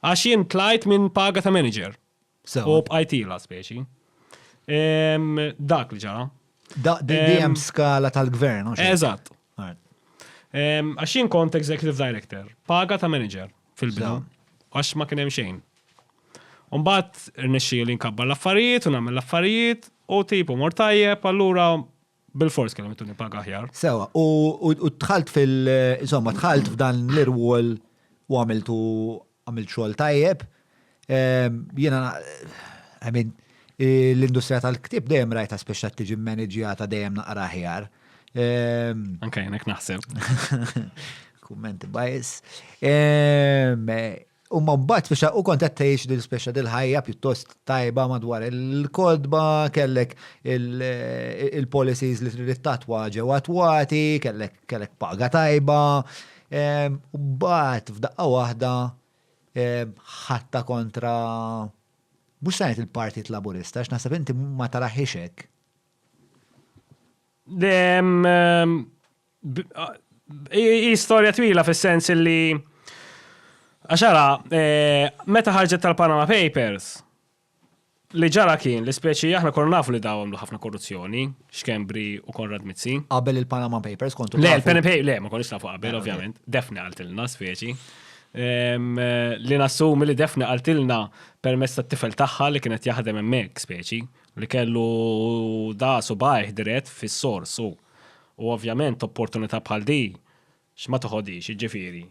B: Għax jien tlajt minn paga ta' manager. Sewa. U bqajt ila speċi. Ehm, dak li ġara. Da, di di hemm Ehm.
A: skala tal-gvern, u xejn. Eżatt.
B: Right. Ehm, Għax jien kont executive director, paga ta' manager fil-bidu. Sewa. Għax ma kien hemm xejn. U mbagħad rnexxieli nkabbar l-affarijiet u nagħmel l-affarijiet u tipu mor tajjeb, allura Bil-fors kellhom ituni paga aħjar. Sewa,
A: u tħalt fil- insomma, tħalt f'dan l-irwol u għamiltu għamilt xogħol tajjeb. Ehm, jiena, I mean, l-industrija tal-ktib dejjem rajta speċa tiġi manaġjata dejjem naqra ħjar. Ehm,
B: Anke jenek naħseb. Kummenti bajs.
A: Ehm, Imma mbagħad biex u kont qed tgħix din speċa dil-ħajja pjuttost tajba madwar il-kodba, kellek il-policies li trid tatwa ġew attwati, kellek paga tajba. U mbagħad f'daqqa waħda ħatta kontra mhux sajt il-Partit Laburista, x'naħseb inti ma taraħiex hekk.
B: Hi storja twila fis-sens li għax ara, eh, meta ħarġet tal-Panama Papers, li ġara kien li speċi aħna konna nafu li daw għamlu ħafna korruzzjoni, xkembri u Konrad Mizzi. Qabel il-Panama Papers
A: kontu. Le, il-Panama Papers, le, ma konniex
B: nafu qabel, ovvjament. Defni għaltilna speċi. Ehm, li nassumi li defni għaltilna permess ta' tifel tagħha li kienet jaħdem hemmhekk speċi li kellu da subajh dirett fis-sors u U ovvjament opportunità bħal di x'ma toħodhiex, jiġifieri,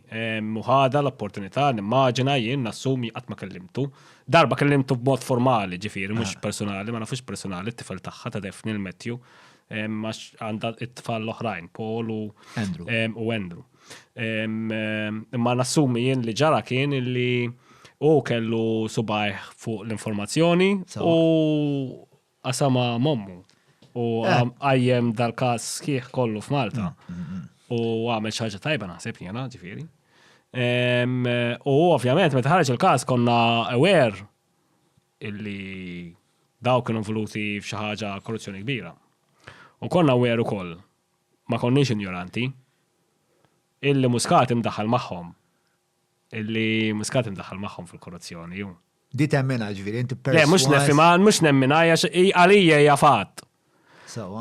B: u ħadha l-opportunità, nimmaġina, jien nassumi qatt ma kellimtu. Darba kellimtu b'mod formali, jiġifieri, mhux persunali, ma nafux persunali, t-tifel tagħha ta' Daphne, il-Matthew, għax għandha t-tfal l-oħrajn, Paul u Andrew. Imma nassumi jien li ġara kien li hu kellu subgħajh fuq l-informazzjoni u qasamha m'ommu u għajjem dal-każ sħiħ kollu f'Malta. U għamel xi ħaġa tajba naħseb jiena ġifieri. U ovvjament meta ħareġ il-każ konna aware illi dawk kienu involuti f'xi ħaġa korruzzjoni kbira. U konna aware ukoll ma konniex injoranti illi Muscat imdaħħal magħhom Illi Muscat imdaħħal magħhom fil-korruzzjoni hu. Di temmina
A: ġviri, inti perswas. Le, mux nefima, mux
B: nemmina, għalija hija fatt.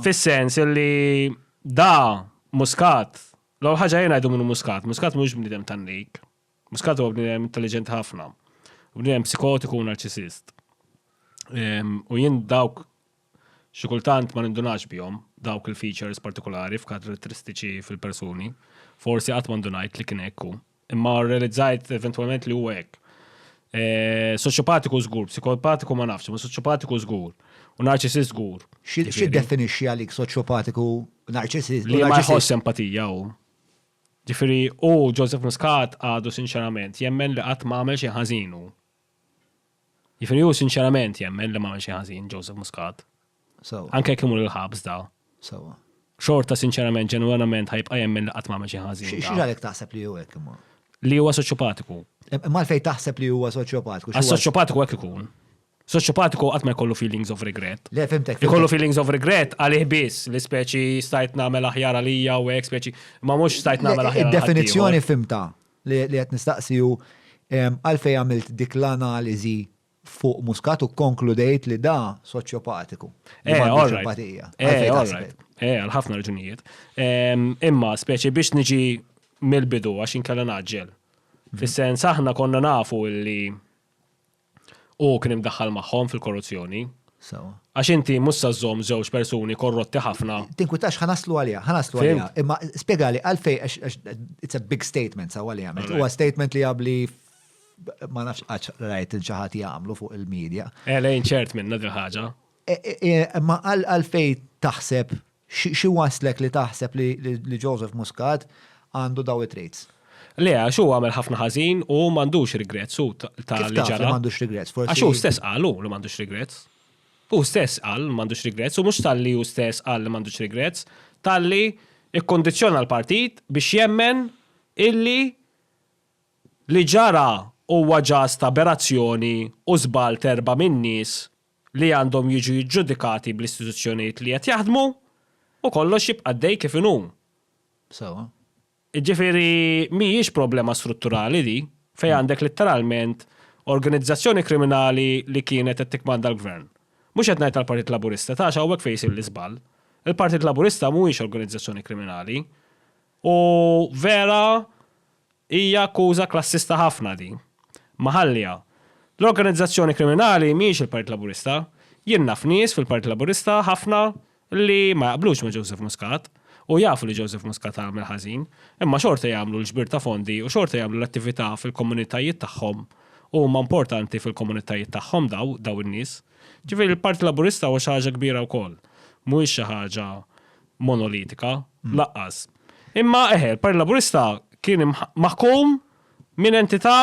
B: Fis-sens li da muskat, l ħaġa jena jdu minnu muskat, muskat mux bnidem tannik, muskat u bnidem intelligent ħafna, bnidem psikotiku u narċisist. U jien dawk Xi kultant ma nindunax bihom, dawk il-features partikulari f'karatteristiċi fil-persuni. Forsi qatt ma ndunajt li kien hekk hu. Imma rrealizzajt eventwalment li huwa hekk. Soċjopatiku żgur, psikopatiku ma nafx, imma soċjopatiku żgur. U narċisist żgur. X'jiddefinixxi
A: għalik soċjopatiku u narċisist? Li ma jħoss
B: empatija hu. Ġifieri hu, Joseph Muscat, għadu sinċerament jemmen li qatt ma għamel xejn ħażin hu. Jiġifieri hu sinċerament jemmen li m'għamel xejn ħażin Joseph Muscat. Sewwa. Anke jekk imur il-ħabs da. Sewwa. Xorta sinċerament ġenwenament ħa jibqa' jemmen li qatt m'għamel xejn ħażin. Xi ġralek taħseb li hu
A: hekk imma? Li huwa soċjopatiku.
B: Imma għalfejn taħseb
A: li huwa soċjopatiku? Għax soċjopatiku hekk ikun.
B: Soċjopatiku qatt ma jkollu feelings of regret. Le fimtek. Ikollu feelings
A: of regret
B: għalih biss li speċi stajt nagħmel aħjar għalija u hekk speċi ma mhux stajt nagħmel aħjar. Id-definizzjoni fimta.
A: Li qed nistaqsi hu għalfejn għamilt dik l-analiżi fuq Muscat u kkonkludejt li da soċjopatiku. Eh, all right. Eh, all
B: right. Eh, għal ħafna raġunijiet. Imma speċi biex niġi mill-bidu għax inkella naġġel. Mhm. Fis-sens aħna konna nafu li Hu kien imdaħħal magħhom fil-korruzzjoni. Sewwa. Għax inti mhux se żżomm żewġ persuni korrotti ħafna. Tinkwitax ħa naslu
A: għaliha, ħa naslu għaliha. Fhimt. Imma spjegali għalfejn għax għax it's a big statement sewwa li għamilt. Huwa statement li għabli ma nafx qattx rajt lil xi ħadd jagħmlu fuq il-media. Elejn ċert minnha
B: dil-ħaġa. Imma
A: għalfejn taħseb, xi wasslek li taħseb li Joseph Muscat għandu dawn it-traits? Le, għax hu
B: għamel ħafna ħażin u hu m'għandux regrets hu ta' li ġara. Kif taf li m'għandux regrets? Forsi. Għax hu
A: stess qal hu
B: li m'għandux regrets. Hu stess qal li m'għandux regrets u mhux ta' li hu stess qal li m'għandux regrets, ta' li kkundizzjona l-partit biex jemmen illi li ġara huwa ġast aberazzjoni u żball t'erba' min-nies li għandhom jiġu jiġġudikati bl-istituzzjonijiet li qed jaħdmu u kollox jibqa' għaddej kif inhu. Sewwa. Jiġifieri mhijiex problema strutturali di, fejn għandek litteralment organizzazzjoni kriminali li kienet qed tikkmanda l-Gvern. Mhux qed ngħid għall-Partit Laburista, ta' għax hawnhekk fejn isir l-iżball. Il-Partit Laburista mhuwiex organizzazzjoni kriminali. U vera hija akkuża klassista ħafna din. Ma ħalliha. L-organizzazzjoni kriminali mhijiex il-Partit Laburista. Jien naf nies fil-Partit Laburista ħafna li ma jaqblux ma' Joseph Muscat u jafu li Joseph Muscat għamel ħażin, imma xorta jagħmlu l-ġbir ta' fondi u xorta jagħmlu l-attività fil-komunitajiet tagħhom u huma importanti fil-komunitajiet tagħhom daw, daw in-nies. Ġifieri l-Partit Laburista huwa xi ħaġa kbira wkoll. Mhuwiex xi ħaġa monolitika, lanqas. Imma eħe, l-Partit Laburista kien maħkum minn entità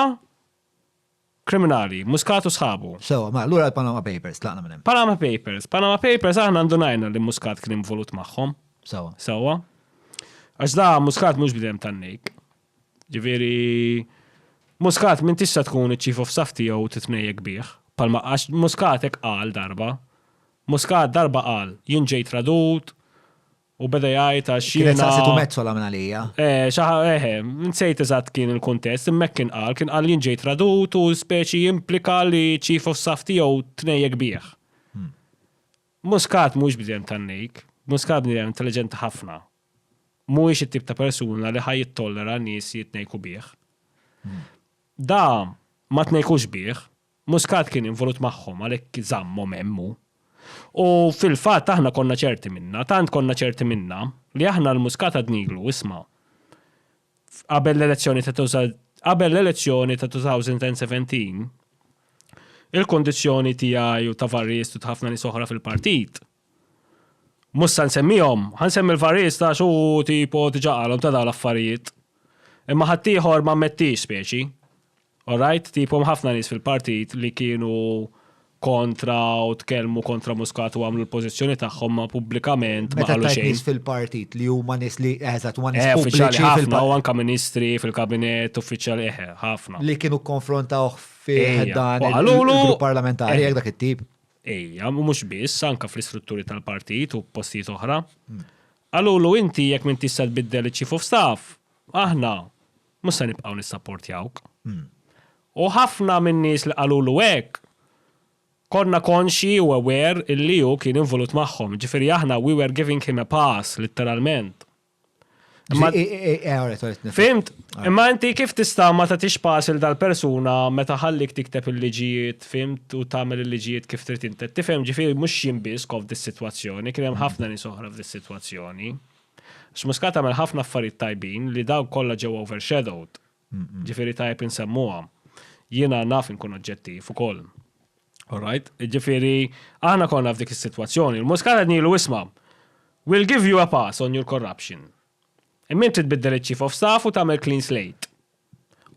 B: kriminali, Muscat u sħabu. Sewa, ma allura l-Panama
A: Papers tlaqna minn hemm. Panama Papers, Panama
B: Papers aħna ndunajna li Muscat kien involut magħhom. Sewa. Sewa. Għax da Muscat mhux bidem tan-nejk. Ġifieri Muscat m'intix se tkun iċ-chief of staff tiegħu u titmejjek bih, bħalma għax Muscat hekk qal darba. Muscat darba qal, jien ġejt radut u beda jgħid għax jiena. Kienet saqsitu Metsola
A: minn
B: għalija.
A: Eh, xi eħe,
B: nsejt eżatt kien il-kuntest, imma kien qal, kien qal jien ġejt radut u speċi implika li chief of staff tiegħu tnejjek bih. Hmm. Muscat mhux bidem tan-nejk, Muscat bidem intelligenti ħafna. mhuwiex it-tip ta' persuna li ħa jittollera nies jitnejku bih. Da ma tnejkux bih, Muscat kien involut magħhom għalhekk żammhom hemm hu. U fil-fatt aħna konna ċerti minnha, tant konna ċerti minnha li aħna l Muscat għadnilu, isma', qabel l-elezzjoni ta' qabel l-elezzjoni ta' 2017 il-kundizzjoni tiegħi u ta' Varriestu ta' ħafna nies oħra fil-partit Mhux se nsemmihom, ħa nsemmi l-Farriżta għax hu tipo diġà qalhom ta' dawn l-affarijiet. Imma ħaddieħor ma ammettiex speċi. Alright, tipo hemm ħafna nies fil-partit li kienu kontra u tkellmu kontra Muscat u għamlu l-pożizzjoni tagħhom ma pubblikament ma qalu xejn. Meta tajt nies
A: fil-partit
B: li
A: huma nies li eżatt huma nies pubbliċi ħafna u anke ministri
B: fil-kabinet uffiċjali eħe ħafna. Li kienu konfrontawh
A: fi dan
B: il-parlamentari jekk
A: dak it-tip. Ejja, u mhux
B: biss, anke fl-istrutturi tal-partit u postijiet oħra. Qalulu inti jekk m'intix se tbiddel iċ-chief of staff, aħna mhux se nibqgħu nissapportjawk. U ħafna min-nies li qalulu hekk konna konxji u aware illi hu kien involut magħhom, jiġifieri aħna we were giving him a pass, litteralment. Fimt, imma inti kif tista' ma tagħtix pass il dal-persuna meta ħallik tikteb il-liġijiet, fimt, u tagħmel il-liġijiet kif trid inti. Tifhem ġifieri mhux jien biss kof dis-sitwazzjoni, kien hemm ħafna nies oħra f'dis-sitwazzjoni. X'Muscat għamel ħafna affarijiet tajbin li dawk kollha ġew overshadowed. Ġifieri tajjeb insemmuha. Jiena naf inkun oġġettiv ukoll. Alright, ġifieri aħna konna f'dik is-sitwazzjoni, il-Muscat qed ngħidu isma' we'll give you a pass on your corruption. Imma inti tbiddel iċ-Chief of Staff u tagħmel clean slate.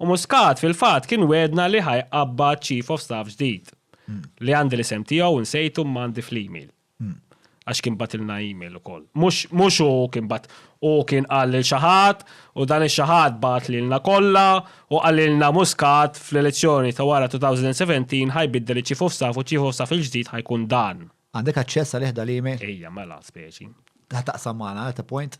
B: U Muscat fil-fatt kien wegħdna li ħa jqabbad Chief of Staff ġdid. Li għandi l-isem tiegħu nsejtu imma għandi fl-email. Għax kien batilna email ukoll. Mhux u kien bat u kien qal lil xi ħadd u dan ix-xi ħadd bagħat lilna kollha u qalilna Muscat fl-elezzjoni ta' wara 2017 ħa jbiddel iċ-Chief of Staff u ċ-Chief of Staff il-ġdid ħa jkun dan. Għandek aċċess għalih
A: dal-email? Ejja mela speċi.
B: Ħa taqsam magħna,
A: at a point?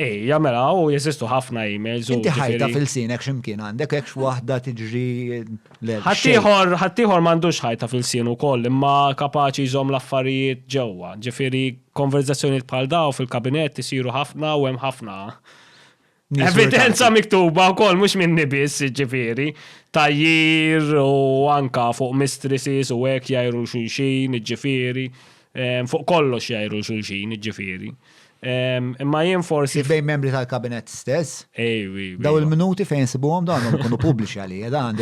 A: Ejja mela
B: u jeżistu ħafna emails u. Inti ħajta fil-sinek
A: x'imkien
B: għandek
A: hekk waħda tiġri l Ħaddieħor
B: ħaddieħor m'għandux ħajta fil-sien ukoll imma kapaċi jżomm l-affarijiet ġewwa. Ġifieri konverżazzjonijiet bħal dawn fil-kabinett isiru ħafna u hemm ħafna Evidenza miktuba u kol, mux minn nibis, ġifiri, tajjir u anka fuq mistresses u għek jajru xulxin, ġifiri, fuq kollox jajru xulxin, ġifiri. Imma jien forsi. Bejn membri tal-kabinet
A: stess. Ejwi. Daw
B: il-minuti fejn
A: sibuhom dawn ikunu pubbliċi għalija dan.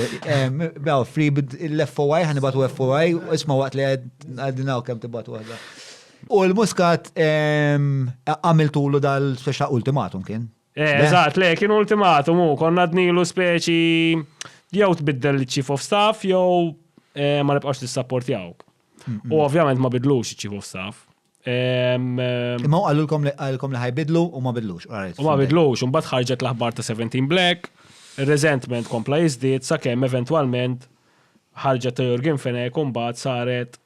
A: Daw free l-FOI ħan ibatu FOI isma' waqt li għadina kemm tibatu għadha. U l-muskat għamiltulu dal-speċa ultimatum kien. Eh, eżatt, le, kien
B: ultimatum u konna dnilu speċi jew tbiddel l-chief of staff jew eh, ma nibqax l-sapport jawk. U ovvjament ma bidlux il-chief of staff.
A: Imma u għallulkom li għallulkom li ħajbidlu u ma bidlux. U ma bidlux, un
B: ħarġet l-aħbar ta' 17 Black, resentment kompla jizdit sa' kem eventualment ħarġet ta' Jurgen Fenek un bat saret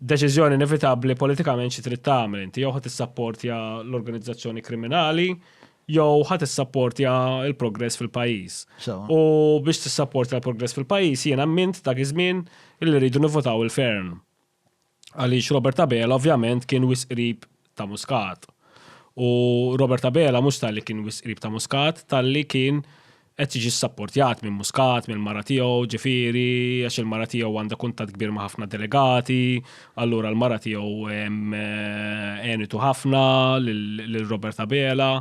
B: deċizjoni inevitabli politikament xi trid tagħmel inti jew ħadd issapportja l-organizzazzjoni kriminali jew ħadd issapportja l-progress fil-pajjiż. U biex tissapportja l-progress fil-pajjiż jiena mint dak iż-żmien illi rridu nivvotaw il-fern. għaliex Robert Abela ovvjament kien wisq qrib ta' Muscat. U Robert Abela mhux talli kien wisq qrib ta' Muscat, talli kien qed jiġi ssapportjat minn Muscat, mill-mara tiegħu, ġifieri, għax il-mara tiegħu għandha kuntatt kbir ma' ħafna delegati, allura l-mara tiegħu għenitu ħafna lil Robert Abela.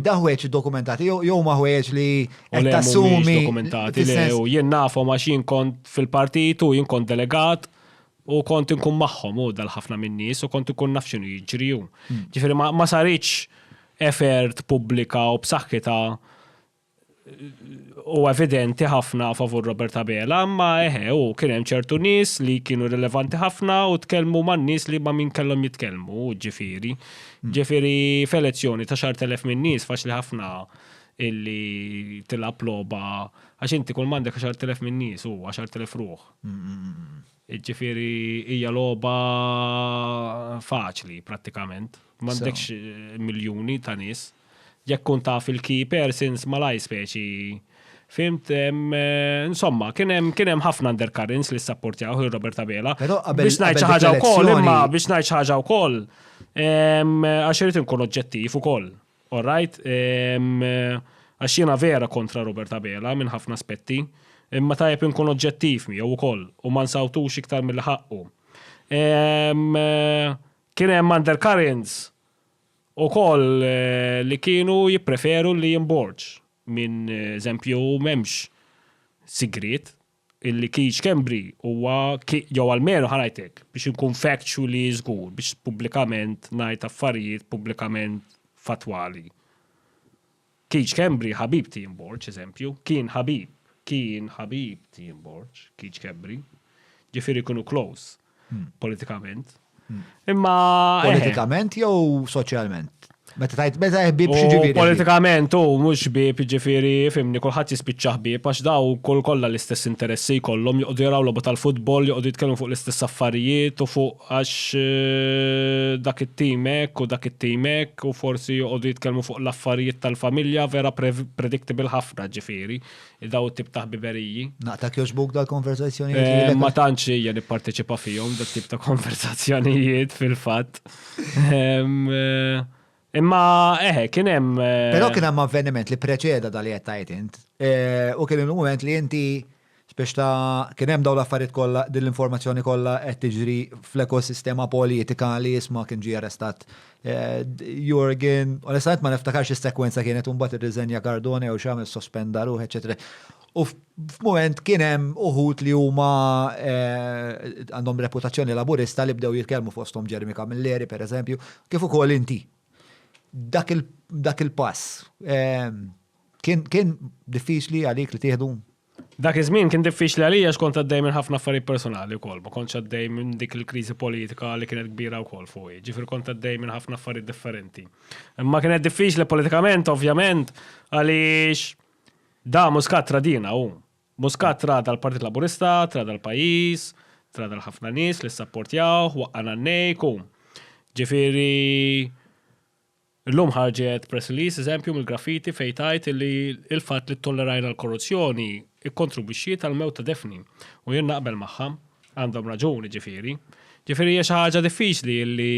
A: Daħweċ dokumentati, jew ma ħweċ li tassumi.
B: Dokumentati, jew jien nafhom għax jien kont fil-partit u jien kont delegat u kont inkun magħhom u dal-ħafna min-nies u kont inkun naf x'inhu jiġri. Hmm. Ġifieri ma saritx effort pubblika u b'saħħitha u evidenti ħafna favur Robert Abela, imma eħe u kien hemm ċertu nies li kienu rilevanti ħafna u tkellmu man-nies li ma' min kellhom jitkellmu, ġifieri. Hmm. Ġifieri f'elezzjoni ta' xar telef minn nies faċli ħafna illi tilab logħba għax inti kull m'għandek xar telef minn nies u xar telef ruħ. Hmm, hmm, ġifieri hija logħba faċli prattikament. M'għandekx miljuni ta' nies. Jekk tkun taf il-key persons malajr speċi Fimt, insomma, kien hemm ħafna undercurrents li sapportjaw il Robert Abela. Biex ngħid xi ħaġa wkoll, imma biex ngħid xi ħaġa wkoll, għax irid inkun oġġettiv ukoll. All right? Għax jiena vera kontra Robert Abela minn ħafna aspetti, imma tajjeb inkun oġġettiv miegħu wkoll u ma nsawtux iktar mill-ħaqqu. Kien hemm undercurrents Ukoll li kienu jippreferu li jinborġ minn eżempju m'hemmx sigriet illi Keith Schembri huwa jew almenu ħa ngħid hekk biex inkun factually żgur biex pubblikament ngħid affarijiet pubblikament fattwali. Keith Schembri ħabib t'Ian Borg, eżempju. Kien ħabib. Kien ħabib t'Ian Borg, Keith Schembri. Ġifieri kienu close politikament. Imma. Eh. Politikament
A: jew soċjalment? Meta tajt, meta ħbib xieġifieri. Politikament u
B: mhux ħbib ġifieri fimni kulħadd jispiċċa ħbib għax daw kull kollha l-istess interessi jkollhom joqogħdu jaraw logħba tal-futbol, joqogħdu jitkellmu fuq l-istess affarijiet u fuq għax dak it-tim hekk u dak it-tim hekk u forsi joqogħdu jitkellmu fuq l-affarijiet tal-familja vera predictable ħafna ġifieri dawn it-tip ta' ħbiberiji. Naqtak jogħġbuk
A: dal-konverżazzjonijiet lilek? Ma tantx hija
B: nipparteċipa fihom dat-tip ta' konverżazzjonijiet fil-fatt. Imma eħe, kien hemm. Eh, Però kien hemm avveniment
A: li preċeda dal qed tajt int. Eh, u kien il-mument li inti biex ta' kien hemm dawn l-affarijiet kollha din l-informazzjoni kollha qed tiġri fl-ekosistema politika li jisma' kien ġie arrestat eh, Jurgen, onestament ma niftakarx is-sekwenza kienet imbagħad irriżenja Cardone jew x'għamel sospenda ruħ, eċetera. U f'mument kien hemm uħud li huma għandhom reputazzjoni laburista li bdew jitkellmu fosthom Jeremy Camilleri pereżempju, kif ukoll inti. Dak il-pass kien diffiċli għalik li tieħdu? Dak iż-żmien
B: kien diffiċli għalija għax kont għaddej minn ħafna affarijiet personali wkoll, ma kontx għaddej minn dik il-kriżi politika li kienet kbira wkoll fuqi, ġifieri kont għaddej minn ħafna affarijiet differenti. Imma kienet diffiċli politikament ovvjament għaliex Da Muscat tradina hu. Muscat trada l-Partit Laburista, trada l-pajjiż, trada l-ħafna nies li ssapportjawh, waqqa' Nannejk u. Ġifieri llum ħarġet press release eżempju mill-Graffiti fejn tgħid illi l-fatt li ttollerajna l-korruzzjoni kkontribwixxiet għall-mewt ta' Daphne u jien naqbel magħha. Għandhom raġuni ġifiri. Ġifiri hija xi ħaġa diffiċli li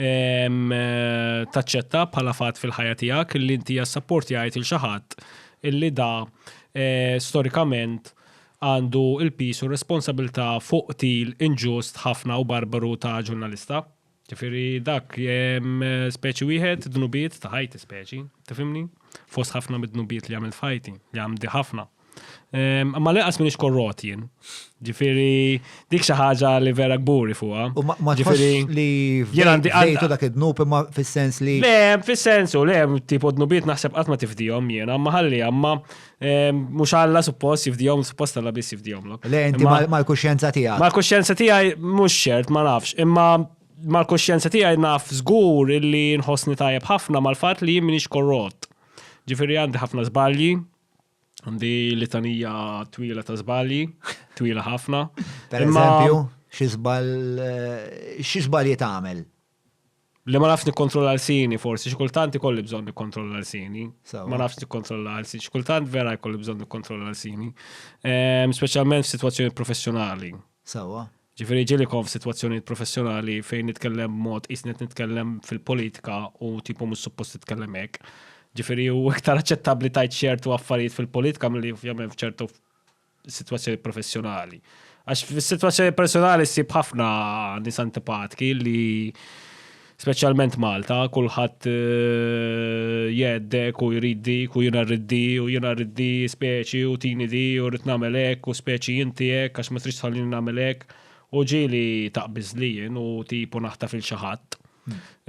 B: taċċetta bħala fatt fil-ħajja tiegħek li inti jassapporti għajt il xaħat illi da eh, storikament għandu il-pis u responsabilità fuq til inġust ħafna u barbaru ta' ġurnalista. Ġifieri dak speċi wieħed dnubiet ta' ħajti speċi, tifhimni? Fost ħafna mid-dnubiet li għamilt f'ħajti, li għamdi ħafna. Ehm, ma l-inqas minix korrot jien. Ġifiri, dik xi ħaġa li vera kburi fuqha. U ma ġifiri
A: li jien għandi għajtu dak id-dnub imma fis-sens li. Le, fis-sensu,
B: le, tipo dnubiet naħseb qatt ma tifdihom jiena, ma ħalli imma Mux għalla suppost jifdijom, suppost għalla bis jifdijom. Le, inti mal-kuxjenza
A: tijaj. Mal-kuxjenza tijaj
B: mux xert, ma nafx. Imma mal-kuxjenza tijaj naf zgur illi nħosni tajab ħafna mal-fat li jimminix korrot. Ġifiri għandi ħafna zbalji, għandi litanija twila ta' zbalji, twila ħafna. Per eżempju,
A: xizbal, eh, xizbal jitgħamel? Li ma
B: nafx nikkontrolla l-sini forsi, xi kultant ikolli bżonn nikkontrolla l-sini. Ma nafx nikkontrolla l-sini. Xi kultant vera jkolli bżonn nikkontrolla l-sini. Ehm, speċjalment
A: f'sitwazzjoni
B: professjonali. Sawa. Ġifieri ġieli kon f'sitwazzjoni professjonali fejn nitkellem mod isni qed nitkellem fil-politika u tipo mhux suppost titkellem hekk. Ġifieri hu iktar aċċettabbli tajt ċertu affarijiet fil-politika milli ovvjament f'ċertu sitwazzjoni professjonali. Għax fis-sitwazzjoni personali ssib ħafna nies antipatki li speċjalment Malta, kulħadd eh, jeddek u jrid dik u jiena rrid di u jiena rrid di speċi u tini di u rrid nagħmel hekk u speċi inti hekk għax ma tridx tħallini nagħmel hekk U ġieli taqbiż li jien u tipu naħtaf il xi ħadd.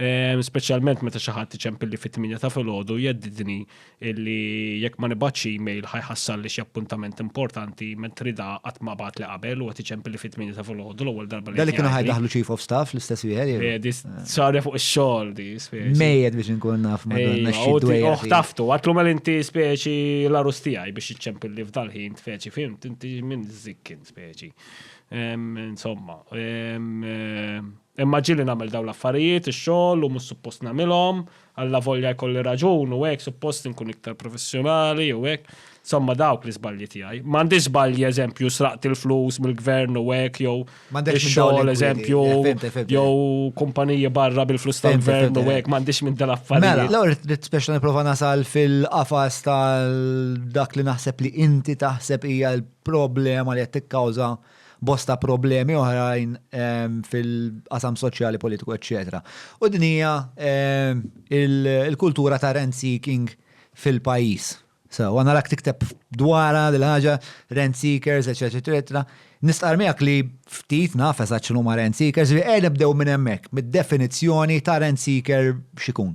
B: Ehm, speċjalment meta xi ħadd iċempilli fit-tminja ta' filgħodu jeddidni illi jekk ma nibgħatx email ħajħassalli xi appuntament importanti mentri da qatt ma bagħat li qabel u qed iċempilli fit-tminja ta' filgħodu l-ewwel darba li. Dalli kienu ħajdaħlu chief of
A: staff l-istess wieħed. Eh, di sarja fuq
B: ix-xogħol di speċi. Mejjed biex inkun naf
A: ma donna xi dwejja. Oħ taftu, għatlu mal
B: inti speċi l-arus tiegħi biex iċempilli f'dal-ħin speċi fimt inti minn żikkin speċi. Insomma, imma ġili nagħmel dawn l-affarijiet, ix-xogħol u mhux suppost nagħmilhom, alla volja jkolli raġun u hekk suppost inkun iktar professjonali u hekk. Insomma dawk l-iżbalji tiegħi. M'għandix żbalji eżempju sraqt il-flus mill-gvern u hekk jew xogħol eżempju jew kumpaniji barra bil-flus tal-gvern u hekk m'għandix minn dal-affarijiet. Mela, l-ewwel trid speċjali nipprova
A: nasal fil-qafas tal-dak li naħseb li inti taħseb hija problema li qed tikkawża bosta problemi oħrajn fil-qasam soċjali, politiku, eċċetera. U din hija il-kultura ta' rent seeking fil-pajjiż. So, għana l-ak tikteb dwara dil-ħaġa, rent seekers, etc. Nistqar miegħek li ftit naf eżatt x'inhu ma' rent seekers, li qed nibdew minn hemmhekk, mid-definizzjoni ta' rent seeker x'ikun.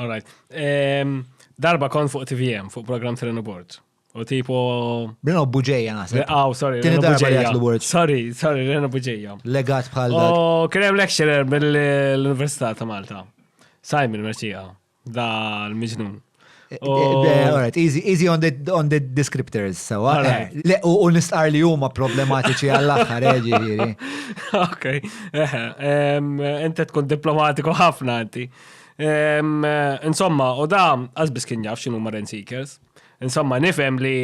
B: All right. Ehm, darba kon fuq TVM, fuq program Trenu Board. U tipo. Rena Buġeja
A: naħseb. Le, aw, sorry, Tieni Rena darba li Buġeja.
B: għatlu word.
A: Sorry,
B: sorry,
A: Rena
B: Buġeja. Legat bħal dak. U
A: kien hemm lecturer
B: mill-Università ta' Malta. Simon Merċija, da l-miġnun. Eh, U-
A: eh, all right, easy, easy on the, on the descriptors, sewa. All right. Eh, Le, u, u nistqar li huma problematiċi għall-aħħar, eh, ġifieri. Ok,
B: eħe, em, inti tkun diplomatiku ħafna inti. Em, Insomma, u da, għazbis kien jaf xinu ma Rent Seekers. Insomma, nifhem li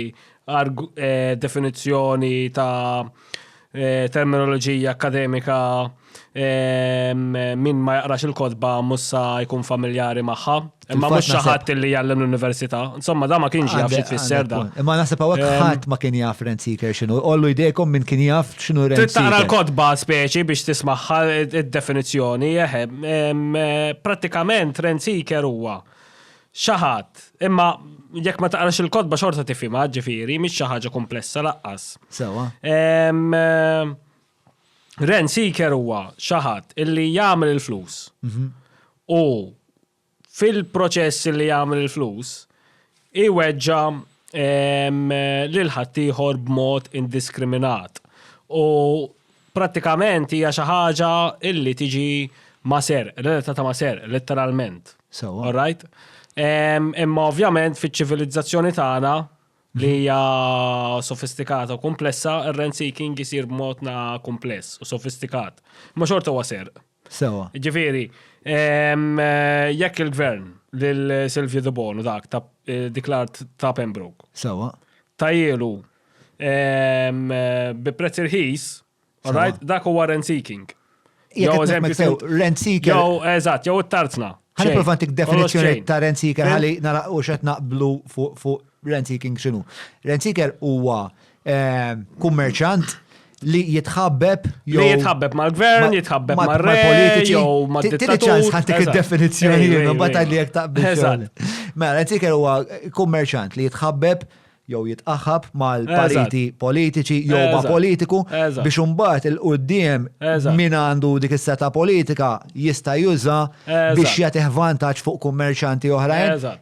B: eh, definizzjoni ta' eh, terminoloġija akademika eh, min ma jaqrax il-kodba mussa jkun familjari magħha. Imma mhux xi ħadd li jgħallem l-università. Insomma, da ma kienx jaf xi tfisser da. Imma naħseb hawnhekk ehm, ħadd
A: ma kien jaf Rent Seeker x'inhu. Ollu jdejkom min kien jaf x'inhu Rent Seeker. Tara l-kodba speċi
B: biex tismaħħa id-definizzjoni, ehm, ehm, prattikament Rent Seeker huwa Xi ħadd, imma jekk ma taqrax il-kotba xorta tifhimha, ġifieri, mhix xi ħaġa kumplessa laqqas. Sewwa. Rent seeker huwa xi ħadd illi jagħmel il-flus. Mhm. U fil-proċess li jagħmel il-flus, iweġġa lil ħaddieħor b'mod indiskriminat. U Prattikament hija xi ħaġa illi tiġi ma' serq, relatata ma' serq, letteralment. Sewwa. All right?
A: Ehm,
B: Imma ovvjament fiċ-ċivilizzazzjoni tagħna li hija sofistikata u kumplessa, ir-rent seeking isir b'modna kumpless u sofistikat. Imma xorta huwa serq. Sewa. Ġifieri, ehm, eh, jekk il-gvern lil Silvio De Bono dak ta' eh, dik l-art ta' Pembroke Sewa.
A: tajielu
B: ehm, eh, bi prezz irħis, alright, dak huwa rent seeking. Jekk Jew qed naħseb eżempju sew,
A: fil- rent seeker- Jew eżatt, jew
B: it-tarzna. Ħalli Xejn. provantik Kollox
A: definizzjoni xejn. ta' rent seeker Fil- ħalli nara u xed naqblu fuq fuq rent seeking x'inhu. Rent seeker huwa kummerċant li jitħabbeb jew. Li jitħabbeb mal-gvern,
B: jitħabbeb mal-politiċi, jew mal-dittatur. ċans ħantik
A: id-definizzjoni li nobata li jek taqbel. Mela, tiker huwa kummerċant li jitħabbeb jew jitqaħab mal-pariti politiċi jew ma' politiku biex imbagħad il-qudiem min għandu dik is-seta politika jista' juża biex jagħtih vantaġġ fuq kummerċanti oħrajn.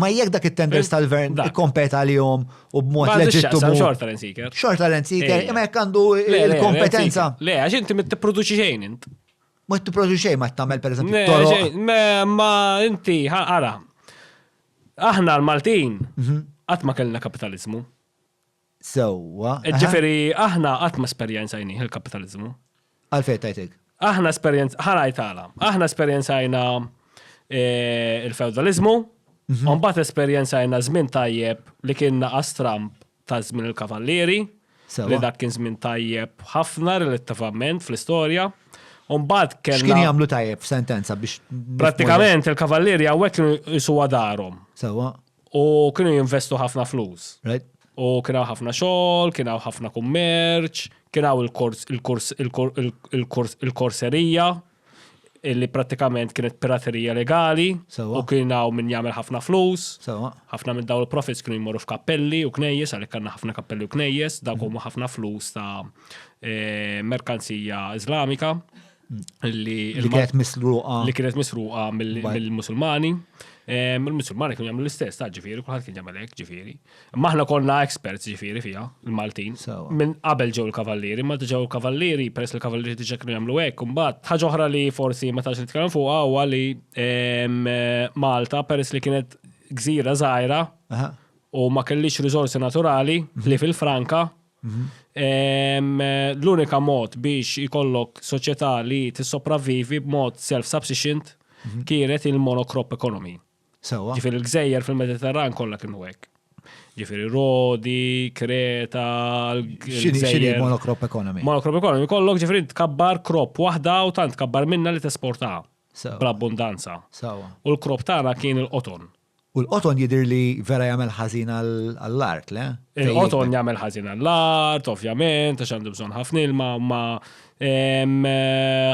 B: Ma jekk dak
A: it-tenders tal-gvern ikkompeta li jom u b'mod leġittu. Xorta l-insiker.
B: Xorta l-insiker, imma
A: jekk għandu il-kompetenza. Le, għax inti mit
B: t-produċi xejn int. Ma t-produċi
A: xejn ma t-tamel
B: per
A: eżempju. Ma inti, għara,
B: aħna l-Maltin, għatma mhm. kellna kapitalizmu.
A: sewwa. Ġifieri
B: aħna qatt ma esperjenzajnih il-kapitaliżmu. Għalfejn tajtek?
A: Aħna esperjenz,
B: ħanajt għala, aħna esperjenzajna eh, il-feudalizmu, mhm. u mbagħad esperjenzajna żmien tajjeb li kien naqas Trump ta' żmien il-kavallieri, li dak kien żmien tajjeb ħafna relattivament fl-istorja. Umbad kellna. X'kien jagħmlu tajjeb
A: f'sentenza biex. Prattikament
B: il-kavallieri hawnhekk jisu darhom. Sewa. U
A: kienu
B: jinvestu ħafna flus. Right. U kien
A: hawn ħafna
B: xogħol, kien hawn ħafna kummerċ, kien hawn il-kors il-kors il-kors il-korserija illi prattikament kienet piraterija legali Sewwa. u kien hawn min jagħmel ħafna flus. Sewwa. Ħafna minn dawn il-profits kienu jmorru f'kappelli u knejjes għalhekk għandna ħafna kappelli u knejjes, dawk huma ħafna flus ta' eh, merkanzija Iżlamika. li kienet misruqa.
A: Li kienet misruqa
B: mill-Musulmani. Il-Musulmani kienu jagħmlu l-istess, ta' ġifieri, kulħadd kien jagħmel hekk ġifieri. Imma aħna konna experts ġifieri fiha, il-Maltin. Minn qabel ġew il-Kavallieri, ma ġew il-Kavallieri, peress li l-Kavallieri diġà kienu jagħmlu hekk, imbagħad ħaġa oħra li forsi ma tax nitkellem fuqha huwa li Malta peress li kienet gżira żgħira u ma kellix riżorsi naturali li fil-Franka L-unika mod biex ikollok soċjetà li tissopravvivi b'mod self-subsiscient kienet il-monocrop economy. Sewwa. Ġifieri l-gżejjer fil-Mediterran kollha kienu hekk. Ġifieri Rodi, Kreta, X'inhi
A: l-gżejjer. monocrop economy? Monocrop economy kollok
B: ġifieri tkabbar crop waħda u tant tkabbar minnha li tesportaha Sewwa. bl-abbundanza. Sewwa. U l-crop tagħna kien il-qoton. U l-qoton jidir
A: li vera jagħmel ħażin għall-art, le? Il-qoton jagħmel
B: ħażin għall-art, ovvjament, għax għandu bżonn ħafna ilma, ma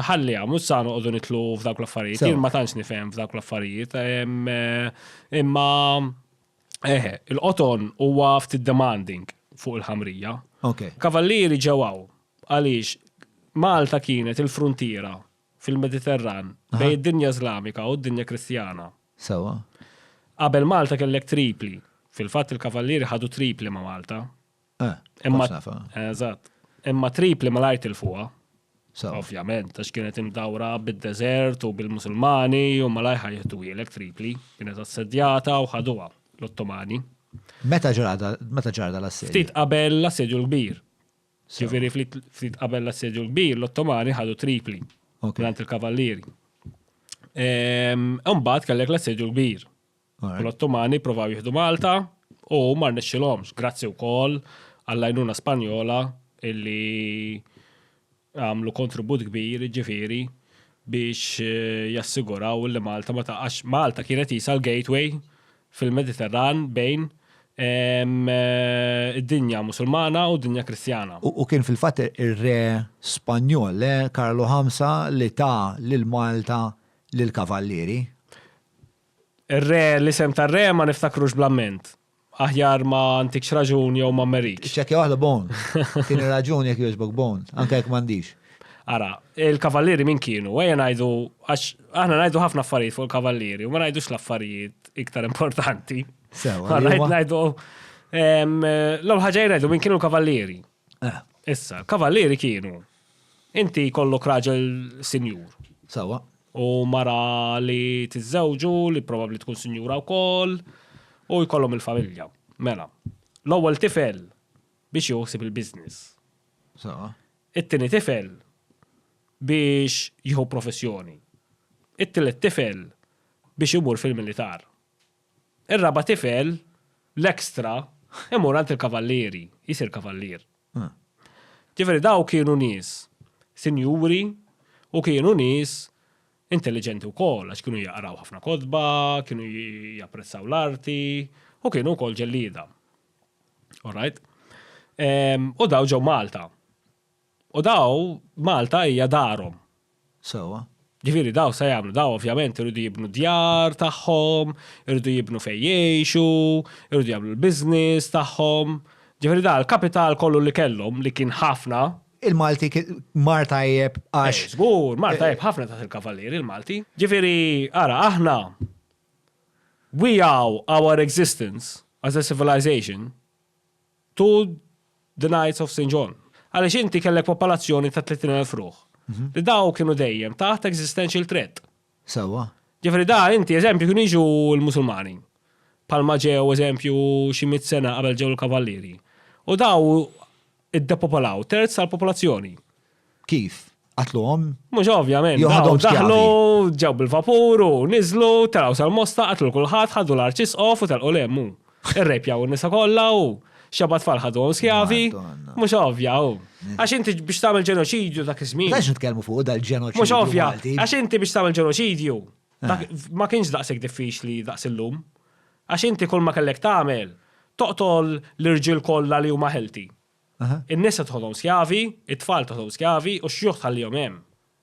B: ħalli għamu sa noqogħdu nitlu f'dawk l-affarijiet. Jien ma tantx nifhem f'dawk l-affarijiet. Imma eħe, il-qoton huwa ftit demanding fuq il-ħamrija. Kavallieri ġewaw għaliex Malta kienet il-frontiera fil-Mediterran, bejn id-dinja Iżlamika u d-dinja Kristjana. Sewwa. Qabel Malta kellek Tripli. Fil-fatt il-Kavallieri ħadu Tripli ma' Malta. Eh, Imma- kontx nafa. Eżatt. Imma Tripli malajr tilfuha. Sewwa. Ovvjament, għax kienet imdawra bid-deżert u bil-Musulmani u malajr ħa jieħduhielek Tripli. Kienet assedjata u ħaduha l-Ottomani. Meta
A: ġara da- meta ġara dal-assedju? Ftit qabel
B: l-Assedju l-Kbir. Ġifieri ftit qabel l-assedju l-kbir, l-Ottomani ħadu Tripli għand il-kavallieri. Imbagħad kellek l-assedju l-kbir. L-Ottomani provaw jieħdu Malta u ma rnexxilhomx, grazzi wkoll għall-għajnuna Spanjola illi għamlu kontribut kbir ġifieri biex eh, jassiguraw li Malta ma taqax. Malta kienet jisa l-gateway fil-Mediterran bejn id-dinja Musulmana u d-dinja Kristjana. U kien fil-fatt
A: ir-Re Spanjol, le, Karlu Ħamsa li ta lil Malta lill-Kavallieri.
B: Ir-Re, l-isem tar-Re ma niftakrux bl-amment. Aħjar ma ntikx raġun jew ma mmerikx. Iċċekkja waħda Bone.
A: Tieni raġun jekk jogħġbok Bone, anke jekk m'għandix. Ara,
B: il-kavallieri min kienu? Ejja ngħidu għax aħna ngħidu ħafna affarijiet fuq il-kavallieri u ma ngħidux l-affarijiet iktar importanti. Sew, ngħidu l-ewwel ħaġa ngħidu min kienu l-kavallieri. Eh. Issa, kavallieri kienu. Inti kollok raġel sinjur. Sewa.
A: U mara
B: li tiżżewġu, li probabbli tkun sinjura wkoll, u jkollhom il-familja. Mela, l-ewwel tifel biex joħsib il-business. Sewa. It-tieni tifel biex jieħu professjoni. It-tielet tifel biex imur fil-militar. Ir-raba' tifel, l-extra, imur għand il-kavallieri, jsir kavallier. Ġifieri dawk kienu nies sinjuri u kienu nies intelliġenti wkoll għax kienu jaqraw ħafna kotba, kienu japprezzaw l-arti u kienu wkoll ġellieda. All right? Ehm, u daw ġew Malta. U daw Malta hija darhom. Sewa. Ġifiri daw se jagħmlu daw ovvjament irridu jibnu djar tagħhom, irridu jibnu fejn jgħixu, irridu jagħmlu l-business tagħhom. Ġifiri da l-kapital kollu li kellhom li kien ħafna. Il-Malti
A: mar tajjeb għax. Żgur, mar tajjeb ħafna
B: taħt il-Kavalieri il-Malti. Ġifiri, ara aħna We owe our existence as a civilization to the Knights of St. John. Għaliex inti kellek popolazzjoni ta' 30,000 ruħ. Li daw kienu dejjem taħt existential threat. Sewwa. Ġifieri da inti eżempju
A: kienu jiġu
B: l-Musulmani. Bħalma ġew eżempju xi mitt sena qabel ġew il-Kavallieri. U daw Iddepopolaw terz tal-popolazzjoni. Kif?
A: Qatluhom? Mhux ovvjament.
B: Jew ħadhom dawn skjavi. Daħlu, ġew
A: bil-vapur u
B: niżlu, telgħu sal-Mosta, qatlu l kulħadd, ħadu l-Arċisqof u telqu lemm hu. Irrejpjaw in-nisa kollha u xeba tfal ħaduhom skjavi. Madonna. Mhux ovvja
A: hu.
B: Għax inti biex tagħmel ġenoċidju dak iż-żmien. Għax nitkellmu fuq dal-ġenoċidju.
A: Mhux ovvja. Malti. Għax
B: inti biex tagħmel ġenoċidju, Eh. Ma kienx daqseg diffiċli daqs illum. Għax inti kull ma kellek tagħmel, toqtol l-irġiel kollha li huma ħelti. In-nisa
A: tħodhom
B: skjavi, it-tfal tħodhom skjavi u x-xjuħ tħallihom hemm.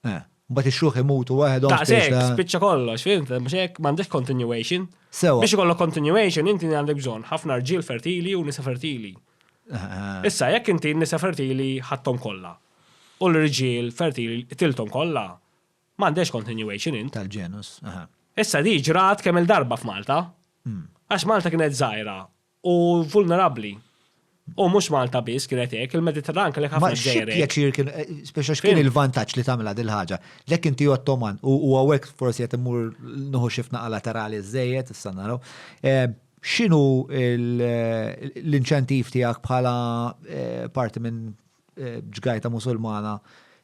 B: Eh. Mbagħad ix-xjuħ
A: imutu waħedhom. Daqseg, spiċċa
B: kollox, fint, mhux hekk m'għandek continuation. Sewa. Biex ikollok
A: continuation
B: inti għandek bżonn ħafna rġiel fertili u nisa fertili. Eh, Issa jekk inti nisa fertili ħadthom kollha. U l-rġiel fertili tilthom kollha. M'għandhiex continuation in. Tal-ġenus, aha.
A: Issa di ġrat
B: kemm-il darba f'Malta. Għax Malta kienet żgħira u vulnerabbli. U mhux Malta biss kienet hekk, il-Mediterran kellek ħafna ġżejjer hekk. Ma xi pjaċir
A: kien,
B: speċa
A: x'kien il-vantaġġ li tagħmilha dil-ħaġa. Lek inti Ottoman u hawnhekk forsi qed immur nieħu xi fnaqa laterali żżejjed, issa naraw. X'inhu l-inċentiv tiegħek bħala parti minn ġgajta Musulmana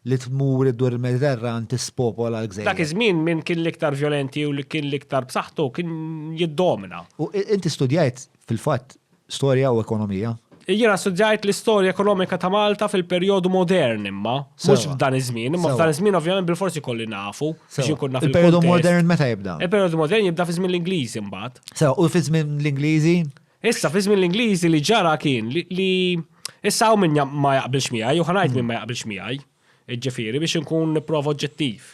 A: li tmur iddur il-Mediterran tispopola l-gżejjer. Dak iż-żmien min kien
B: l-iktar vjolenti u li kien l-iktar b'saħħtu kien jiddomina. U inti
A: studjajt fil-fatt storja u ekonomija? Jiena studjajt
B: l-istorja ekonomika ta' Malta fil-perjodu modern imma, mhux f'dan iż-żmien, imma
A: f'dan iż-żmien
B: ovvjament bilfors ikolli nafu biex inkun naf. Il-perjodu modern meta jibda? Il-perjodu
A: modern jibda fi żmien
B: l-Ingliżi mbagħad. Sewa, u fi żmien
A: l-Ingliżi? Issa, fi żmien
B: l-Ingliżi li ġara kien li issa hawn min ma jaqbilx miegħi, u ħanajt min ma jaqbilx miegħi, ġifieri biex inkun nipprova oġġettiv.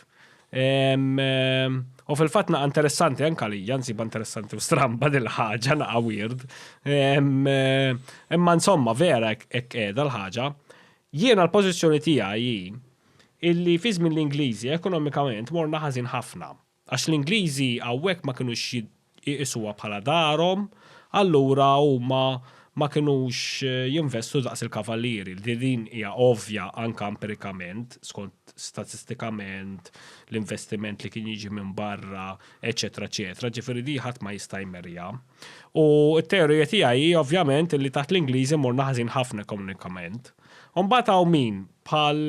B: U fil-fatt naqa' interessanti anke għalija, nsiba interessanti u stramba din ħaġa naqa' weird. Imma insomma vera hekk qiegħda l-ħaġa. Jiena l-pożizzjoni tiegħi hi illi fi żmien l-Ingliżi ekonomikament morna ħażin ħafna. Għax l-Ingliżi hawnhekk ma kinux iqisuha bħala darhom, allura huma ma kinux jinvestu daqs il-kavallieri, li din hija ovvja anke empirikament, skont statistikament l-investiment li kien jiġi minn barra, eċċetera eċċetera, ġifieri din ħadd ma jista' jmerrja. U t-teorija tiegħi hi ovvjament li taħt l-Ingliżi morna ħażin ħafna ekonomikament. U mbagħad hawn min, bħal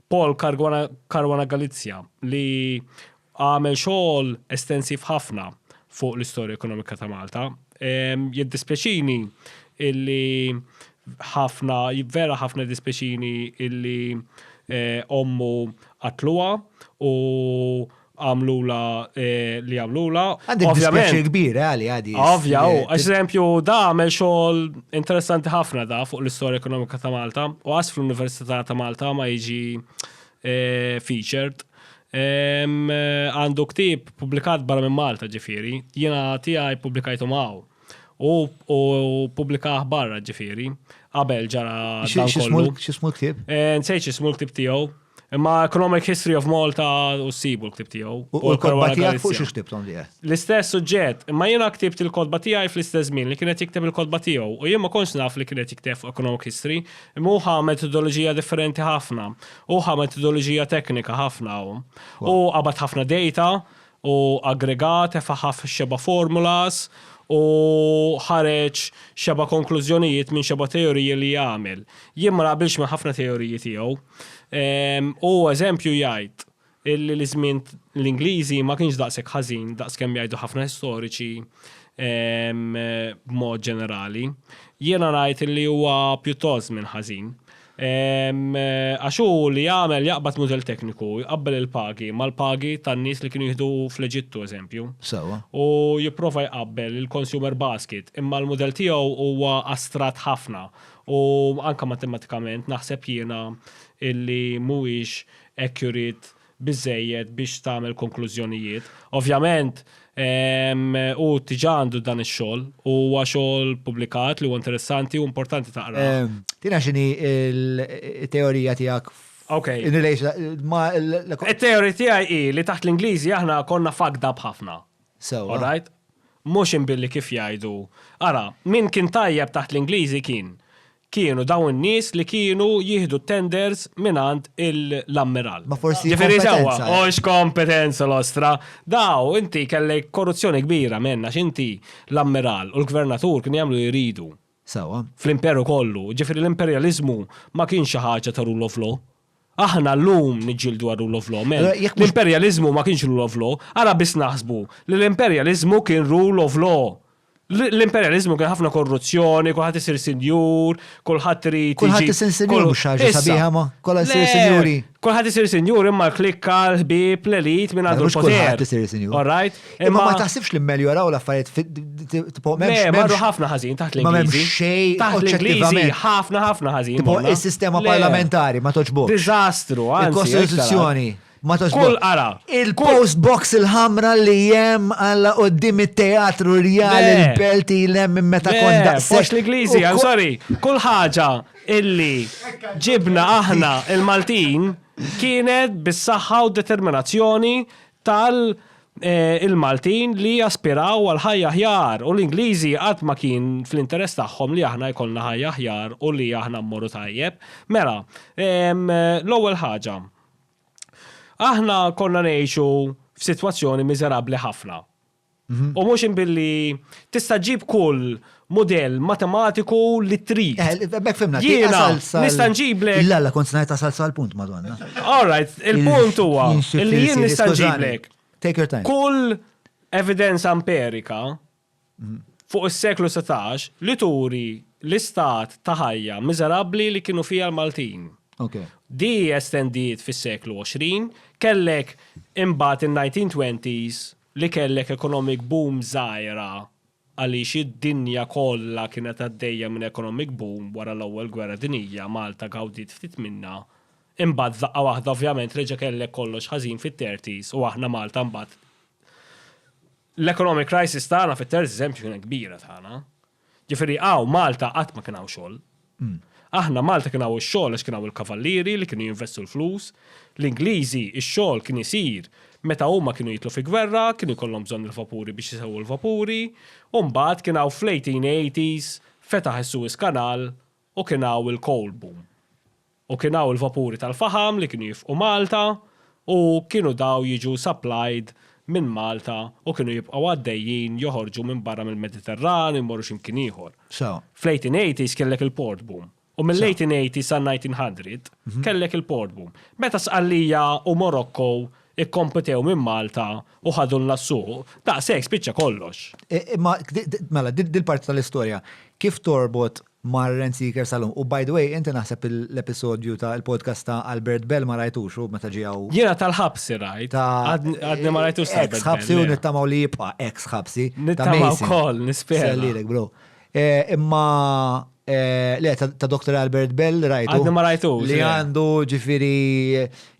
B: Paul Caruana, Caruana Galizia, li għamel xogħol estensiv ħafna fuq l-istorja ekonomika ta' Malta. Ehm, jiddispjaċini illi ħafna, vera ħafna dispjaċini illi eh, ommu qatluha u għamlulha li għamlulha. Għandi dispjaċir
A: kbir għali għadi. Ovvja, u eżempju
B: da għamel xogħol interessanti ħafna da fuq l-istorja ekonomika ta' Malta u għas fl-Università ta' Malta ma jiġi eh, featured. Eh, għandu ktib publikat barra minn Malta ġifiri, jiena tiegħi publikajtu maw u publikaħ barra ġifiri, qabel ġara dan kollu. Xismu ktib? Eh,
A: nsejċ xismu ktib
B: tiegħu. Imma Economic History of Malta u s-sibu l-ktib tiegħu. U l-kodba tiegħek
A: fuq xi ktibtom tiegħek? L-istess suġġett,
B: imma jiena ktibt il-kodba tiegħi fl-istess żmien li kienet jikteb il-kodba tiegħu u jien ma kontx naf li kienet jikteb fuq Economic History, imma hu ħa metodoloġija differenti ħafna. Hu ħa metodoloġija teknika ħafna hu. U qabad ħafna data u aggregat efaħa f'xeba' formulas u ħareġ xeba' konklużjonijiet minn xeba' teoriji li għamel. Jien ma naqbilx ma' ħafna teoriji tiegħu. Hu eżempju jgħid illi li żmien l-Ingliżi ma kienx daqshekk ħażin daqskemm jgħidu ħafna istoriċi b'mod ġenerali. Jiena ngħid illi huwa pjuttost żmien ħażin. Għax hu li jagħmel jaqbad mudell tekniku, jqabbel il-pagi mal-pagi tan-nies li kienu jieħdu fl-Eġittu, eżempju. Sewwa. U
A: jipprova
B: jqabbel il-consumer basket, imma l-mudell tiegħu huwa astratt ħafna u anke matematikament naħseb jiena illi mhuwiex accurate biżżejjed biex tagħmel konklużjonijiet. Ovvjament, hu diġà għandu dan ix-xogħol u huwa xogħol pubblikat li huwa interessanti u importanti taqrah. Tina x'inhi
A: t-teorija tiegħek in
B: relation
A: ma' It-teorija tiegħi
B: hi li taħt l-Ingliżi aħna konna fucked up ħafna. Sewwa. All right? Mhux inbilli kif jgħidu. Ara, min kien tajjeb taħt l-Ingliżi kien kienu dawn in-nies li kienu jieħdu t-tenders mingħand l-ammiral. Ma forsi Ġifieri
A: sewwa, kompetenza, eh? hux
B: kompetenza l-ostra. Daw inti kellek korruzzjoni kbira menna x'inti l-ammiral u l-gvernatur kienu jagħmlu li jridu Sawa.
A: fl-imperu kollu.
B: Ġifieri l-imperjaliżmu ma kienx xi ħaġa ta' rule of law. Aħna llum niġġieldu għar-rule of law, men, l-imperjaliżmu
A: ma kienx rule
B: of law, ara biss naħsbu li l-imperjaliżmu kien rule of law. L-imperjaliżmu kien ħafna korruzzjoni, kulħadd isir sinjur, kulħadd irid. Kulħadd isir sinjur mhux
A: ħaġa sabiħa ma, kollha jsir sinjuri. Kulħadd isir sinjur
B: imma l-klikka, l-ħbieb, l-elit minn għandu l-poter. Kulħadd isir sinjur. All
A: right? Imma ma
B: taħsibx li
A: mmeljoraw l-affarijiet tipo memx. Marru ħafna
B: ħażin taħt l-Ingliżi. Xej
A: taħt
B: l-Ingliżi ħafna ħafna
A: ħażin. Tipo
B: is-sistema parlamentari
A: ma toġbok. Diżastru,
B: Il-Kostituzzjoni.
A: Ma toġbok. Kull qara. Il-post
B: box
A: il-ħamra li jem għalla qoddim it-teatru rjal il-pelti l-em
B: minn
A: meta konda. Post l-Ingliżi,
B: I'm
A: sorry.
B: Kull ħaġa illi ġibna aħna il-Maltin kienet bis-saħħa u determinazzjoni tal il-Maltin li jaspiraw għal ħajja aħjar u l-Ingliżi qatt ma kien fl-interess tagħhom li aħna jkollna ħajja aħjar u li aħna mmorru tajjeb. Mela, l-ewwel ħaġa, aħna konna ngħixu f'sitwazzjoni miżerabbli ħafna. Mhm. U mhux billi tista' ġib kull model matematiku li trid. Eh, bek fimna, jiena
A: nista'
B: nġiblek. La, la, kont ngħid salsa
A: għal punt madonna. All right,
B: il-punt huwa li jien nista' nġiblek. Take your time. Kull evidenza amperika mhm. fuq is-seklu 16 li turi l-istat ta' ħajja miżerabbli li kienu fija l-Maltin. Okay. Di
A: estendiet
B: fis-seklu 20, kellek imbagħad in-1920s li kellek economic boom żgħira għaliex id-dinja kollha kienet għaddejja minn economic boom wara l-Ewwel Gwerra Dinjija, Malta gawdiet ftit minnha, imbagħad f'daqqa waħda ovvjament reġa' kellek kollox ħażin fit-thirties u aħna Malta mbagħad l-economic crisis tagħna fit-thirties eżempju kienet kbira tagħna. Ġifieri hawn Malta qatt ma kien hawn xogħol. Aħna Malta kien hawn ix-xogħol għax kien hawn il-kavallieri li kienu jinvestu l-flus. L-Ingliżi ix-xogħol kien isir meta huma kienu jidħlu fi gwerra, kienu jkollhom bżonn il-vapuri biex isewwu l-vapuri, u mbagħad kien hawn fl-1880s fetaħ is-Suez Canal U kien hawn il-coal boom. U kien hawn il-vapuri tal-faħam li kienu jifqu Malta u kienu daw jiġu supplied minn Malta u kienu jibqgħu għaddejjin joħorġu minn barra mill-Mediterran u jmorru xi mkien ieħor.
A: Fl-1880s kellek
B: il-port boom. U mill-1880 sal-1900 kellek il-port boom. Meta Sqallija u Morocco kkompetew minn Malta u ħadulna s-suq, daqshekk spiċċa kollox. Imma,
A: mela, din il-parti tal-istorja kif torbot mar Rent Seeker sal-lum. U by the way, inti naħseb l-episodju ta' il-podcast ta' Albert Bell ma rajtux u meta ġie hawn. Jiena tal-ħabsi
B: rajt. Għadni ma rajtux tal-ħabsi. Ex ħabsi u nittamaw
A: li jibqa' ex ħabsi. Nittamaw kol,
B: nispera. Sellilek, bro.
A: Imma Eh, le, ta' Dr. Albert Bell rajtu. Għadni ma rajtu. Li
B: għandu
A: ġifiri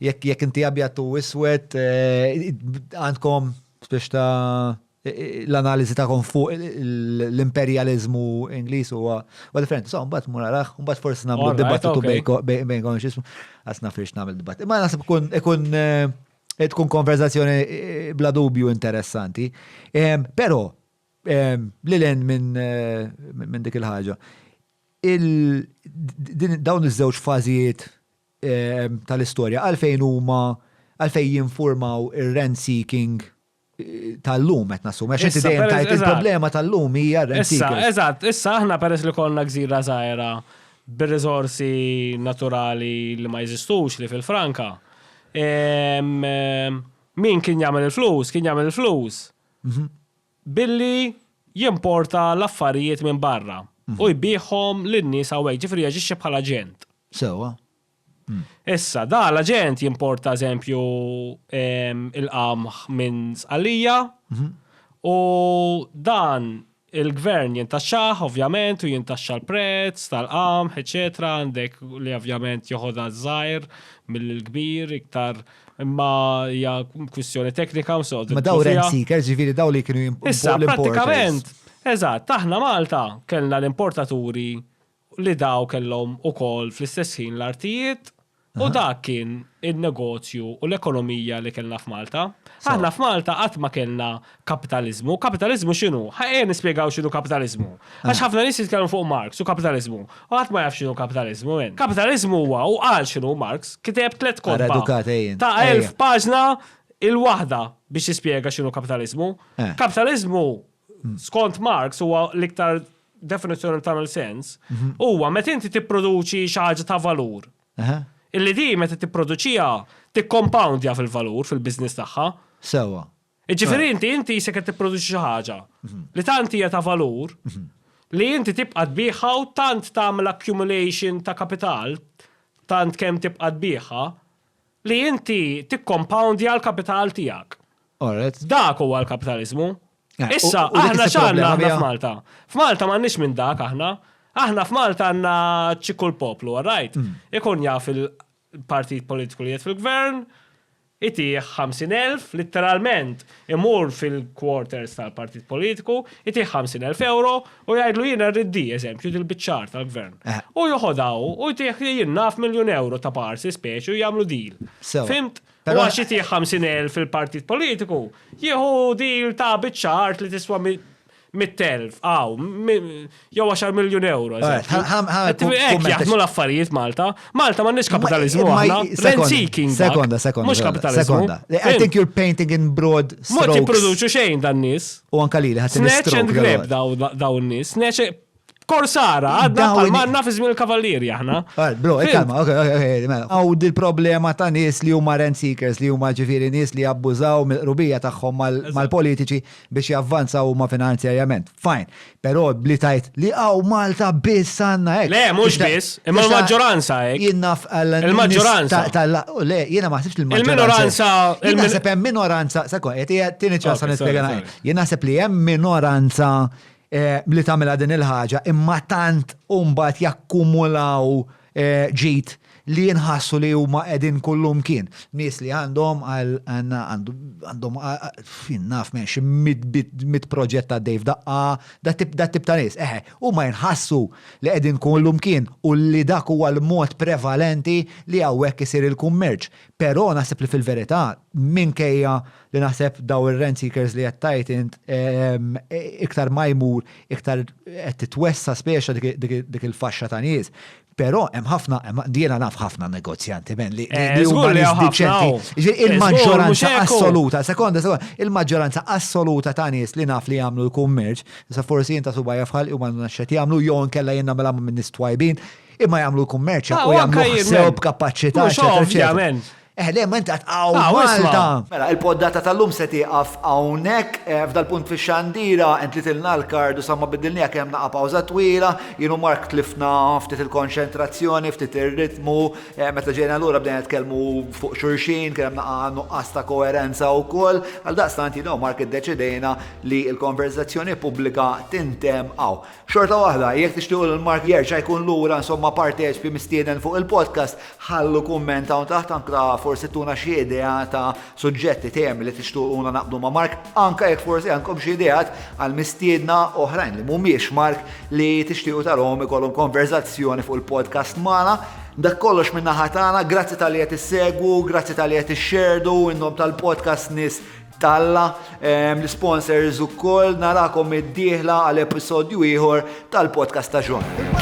A: jekk inti abjad u iswed eh, għandkom biex ta' l-analiżi tagħkom fuq l-imperjaliżmu Ingliż huwa huwa differenti. So mbagħad mur araħ, mbagħad forsi nagħmlu Alright, dibattitu okay. bejko- bej-
B: bejnkom
A: x'ismu. Għas nafirx nagħmel dibatt. Imma naħseb ikun ikun eh, tkun konverzazzjoni eh, bla dubju interessanti. Em, Però em, li len minn eh, minn dik il-ħaġa. Il- din- Dawn iż-żewġ fażijiet em, tal-istorja għalfejn huma għalfejn jinformaw ir-rent seeking tal-lum qed nassum. Għax inti dejjem tajt il-problema tal-lum
B: hija
A: rent Issa, eżatt, issa
B: aħna
A: peress
B: li konna gżira żgħira bir-riżorsi naturali li ma jeżistux li fil-Franka. Min kien jagħmel il-flus, kien jagħmel il-flus mhm. billi jimporta l-affarijiet minn barra mhm. u jbieħhom lin-nies hawnhekk, ġifri jaġixxi bħala ġent. Sewa. Issa, da l-aġent jimporta eżempju il-qamħ minn Sqallija mhm. u dan il-gvern jintaxxaħ ovvjament u jintaxxa l-prezz tal-qamħ, eċetera, għandek li ovvjament joħodha żgħir mill-kbir iktar imma hija kwistjoni teknika u soqgħod. Ma daw rent seekers ġifieri
A: daw li kienu Issa, pratikament,
B: eżatt, aħna Malta kellna l-importaturi li daw kellhom ukoll fl-istess ħin l-artijiet u dak kien in-negozju u l-ekonomija li kellna f'Malta. Aħna f'Malta qatt ma kellna kapitaliżmu. Kapitaliżmu x'inhu? Ejja nispjegaw x'inhu kapitaliżmu. Għax ħafna nies jitkellmu fuq Marx u kapitaliżmu. U ħadd ma jaf x'inhu kapitaliżmu. Kapitaliżmu huwa, u qal x'inhu Marx, kiteb tliet kotba ta' elf paġna il-waħda biex jispjega x'inhu kapitaliżmu. Kapitaliżmu, skont Marx, huwa l-iktar definizzjoni li tagħmel sens, mhm. huwa meta inti tipproduċi xi ħaġa ta' valur. Illi di meta tipproduċija tikkompawndja fil-valur fil-biżniss tagħha. Sewa.
A: Iġifieri inti
B: inti se qed tipproduċi xi ħaġa mhm. li tant hija ta' valur mhm. li inti tibqa' tbieħha u tant tagħmel accumulation ta' kapital tant kemm tibqa' tbieħha li inti tikkompawndja l-kapital tiegħek. Dak huwa l-kapitalizmu. Eh, Issa, u- u dik aħna is-sib x'għandna problema aħna biha. f'Malta? F'Malta m'għandniex minn dak aħna. Aħna f'Malta għandna ċikku l-poplu, all right? Mm. Ikun jaf il-partit politiku li jgħid fil-gvern, itih 50.000, litteralment, imur fil-quarters tal-partit politiku, itih 50.000 euro u jgħidlu jiena rrid di, eżempju, dil-bicċar tal-gvern. Eh. U joħodaw u jtih jien naf miljon euro ta' parsi speċi u jagħmlu deal. Sewa. Fimt? Pero għax jitih 50.000 fil-partit politiku, jieħu dil ta' biċċa art li tiswa 100.000, għaw, jew 10 miljon euro. Ek jaħdmu l-affarijiet Malta. Malta ma nix kapitalizmu għahna. Rent-seeking. Sekonda, sekonda. Mux
A: kapitalizmu.
B: I think you're
A: painting in broad strokes. Mux jiproduċu xejn
B: dan nis. U anka li li ħat Snatch
A: and grab
B: dawn nis. Snatch Korsara, għadna bħal manna fi żmien il-kavallieri aħna. Bro, e kalma, ok,
A: ok, ok, mela. Għaw dil-problema ta' nies li huma rent seekers, li huma ġifieri nies li jabbużaw mill-qrubija tagħhom mal-politiċi biex javvanzaw huma finanzjarjament. Fajn, però li tajt li għaw Malta biss għandna hekk. Le, mhux biss, imma
B: l-maġġoranza hekk. Jinnaf il-maġġoranza. Le,
A: jiena ma ħsibx il-maġġoranza. Il-minoranza. Jiena naħseb hemm minoranza, sekwa, qed tieni ċansa nispjega. Jiena naħseb li hemm minoranza eh, li tagħmilha din il-ħaġa imma tant u mbagħad jakkumulaw eh, ġid li jinħassu li huma qegħdin kullum kien. Nies li għandhom għandhom fin naf minn xi mit proġett ta' Dave daqqa, da tip da tip ta' nies. Eħe, huma jinħassu li qegħdin kullum kien u li dak huwa l-mod prevalenti li hawnhekk isir il-kummerċ. Però naħseb li fil-verità minkejja li naħseb daw ir-rent seekers li qed tgħid int ehm, iktar ma jmur iktar qed titwessa speċa dik il-faxxa ta' nies. Però hemm ħafna, diena naf ħafna negozjanti men li eh, huma nies diċenti. Eh, il-maġġoranza assoluta, sekonda, sekonda, il-maġġoranza assoluta ta' nies li naf li jagħmlu l-kummerċ, sa forsi jinta suba jafħal u ma naxxet jagħmlu jew nkella jenna mela minn nies twajbin, imma jagħmlu l-kummerċ ah, u jagħmlu sew b'kapaċità. Ovvjament. Eh le, ma inti għat għaw ah, Malta. Mela, il-poddata tal-lum se tiqaf għawnek, eh, f'dal-punt fi xandira, entlitilna l-kardu samma bidilni għak jem naqa pawza twila, jenu mark tlifna ftit il-konċentrazzjoni, ftit il-ritmu, eh, meta ġejna l-ura bdejna tkellmu fuq xurxin, kien hemm naqa nuqqas ta' koerenza u koll, għal daqstant jenu mark id-deċidejna li il-konverzazzjoni pubblika tintem għaw. Xorta waħda, jekk tixtiequ lil Mark jerġa' jkun lura insomma parteċpi mistieden fuq il-podcast, ħallu kumment hawn taħt anka forsi tuna xi idea ta' suġġetti, temi li tixtuquna naqbdu ma' Mark, anka jekk forsi għandkom xi ideat għal mistiedna oħrajn li mhumiex Mark li tixtiequ tarahom ikollhom konverżazzjoni fuq il-podcast magħna. Dak kollox minn naħa tagħna, grazzi tal-li qed issegwu, grazzi tal-li qed ixxerdu, innom tal-podcast nies talla l-isponsors ukoll narakom id-dieħla għal episodju ieħor tal-podcast ta' John.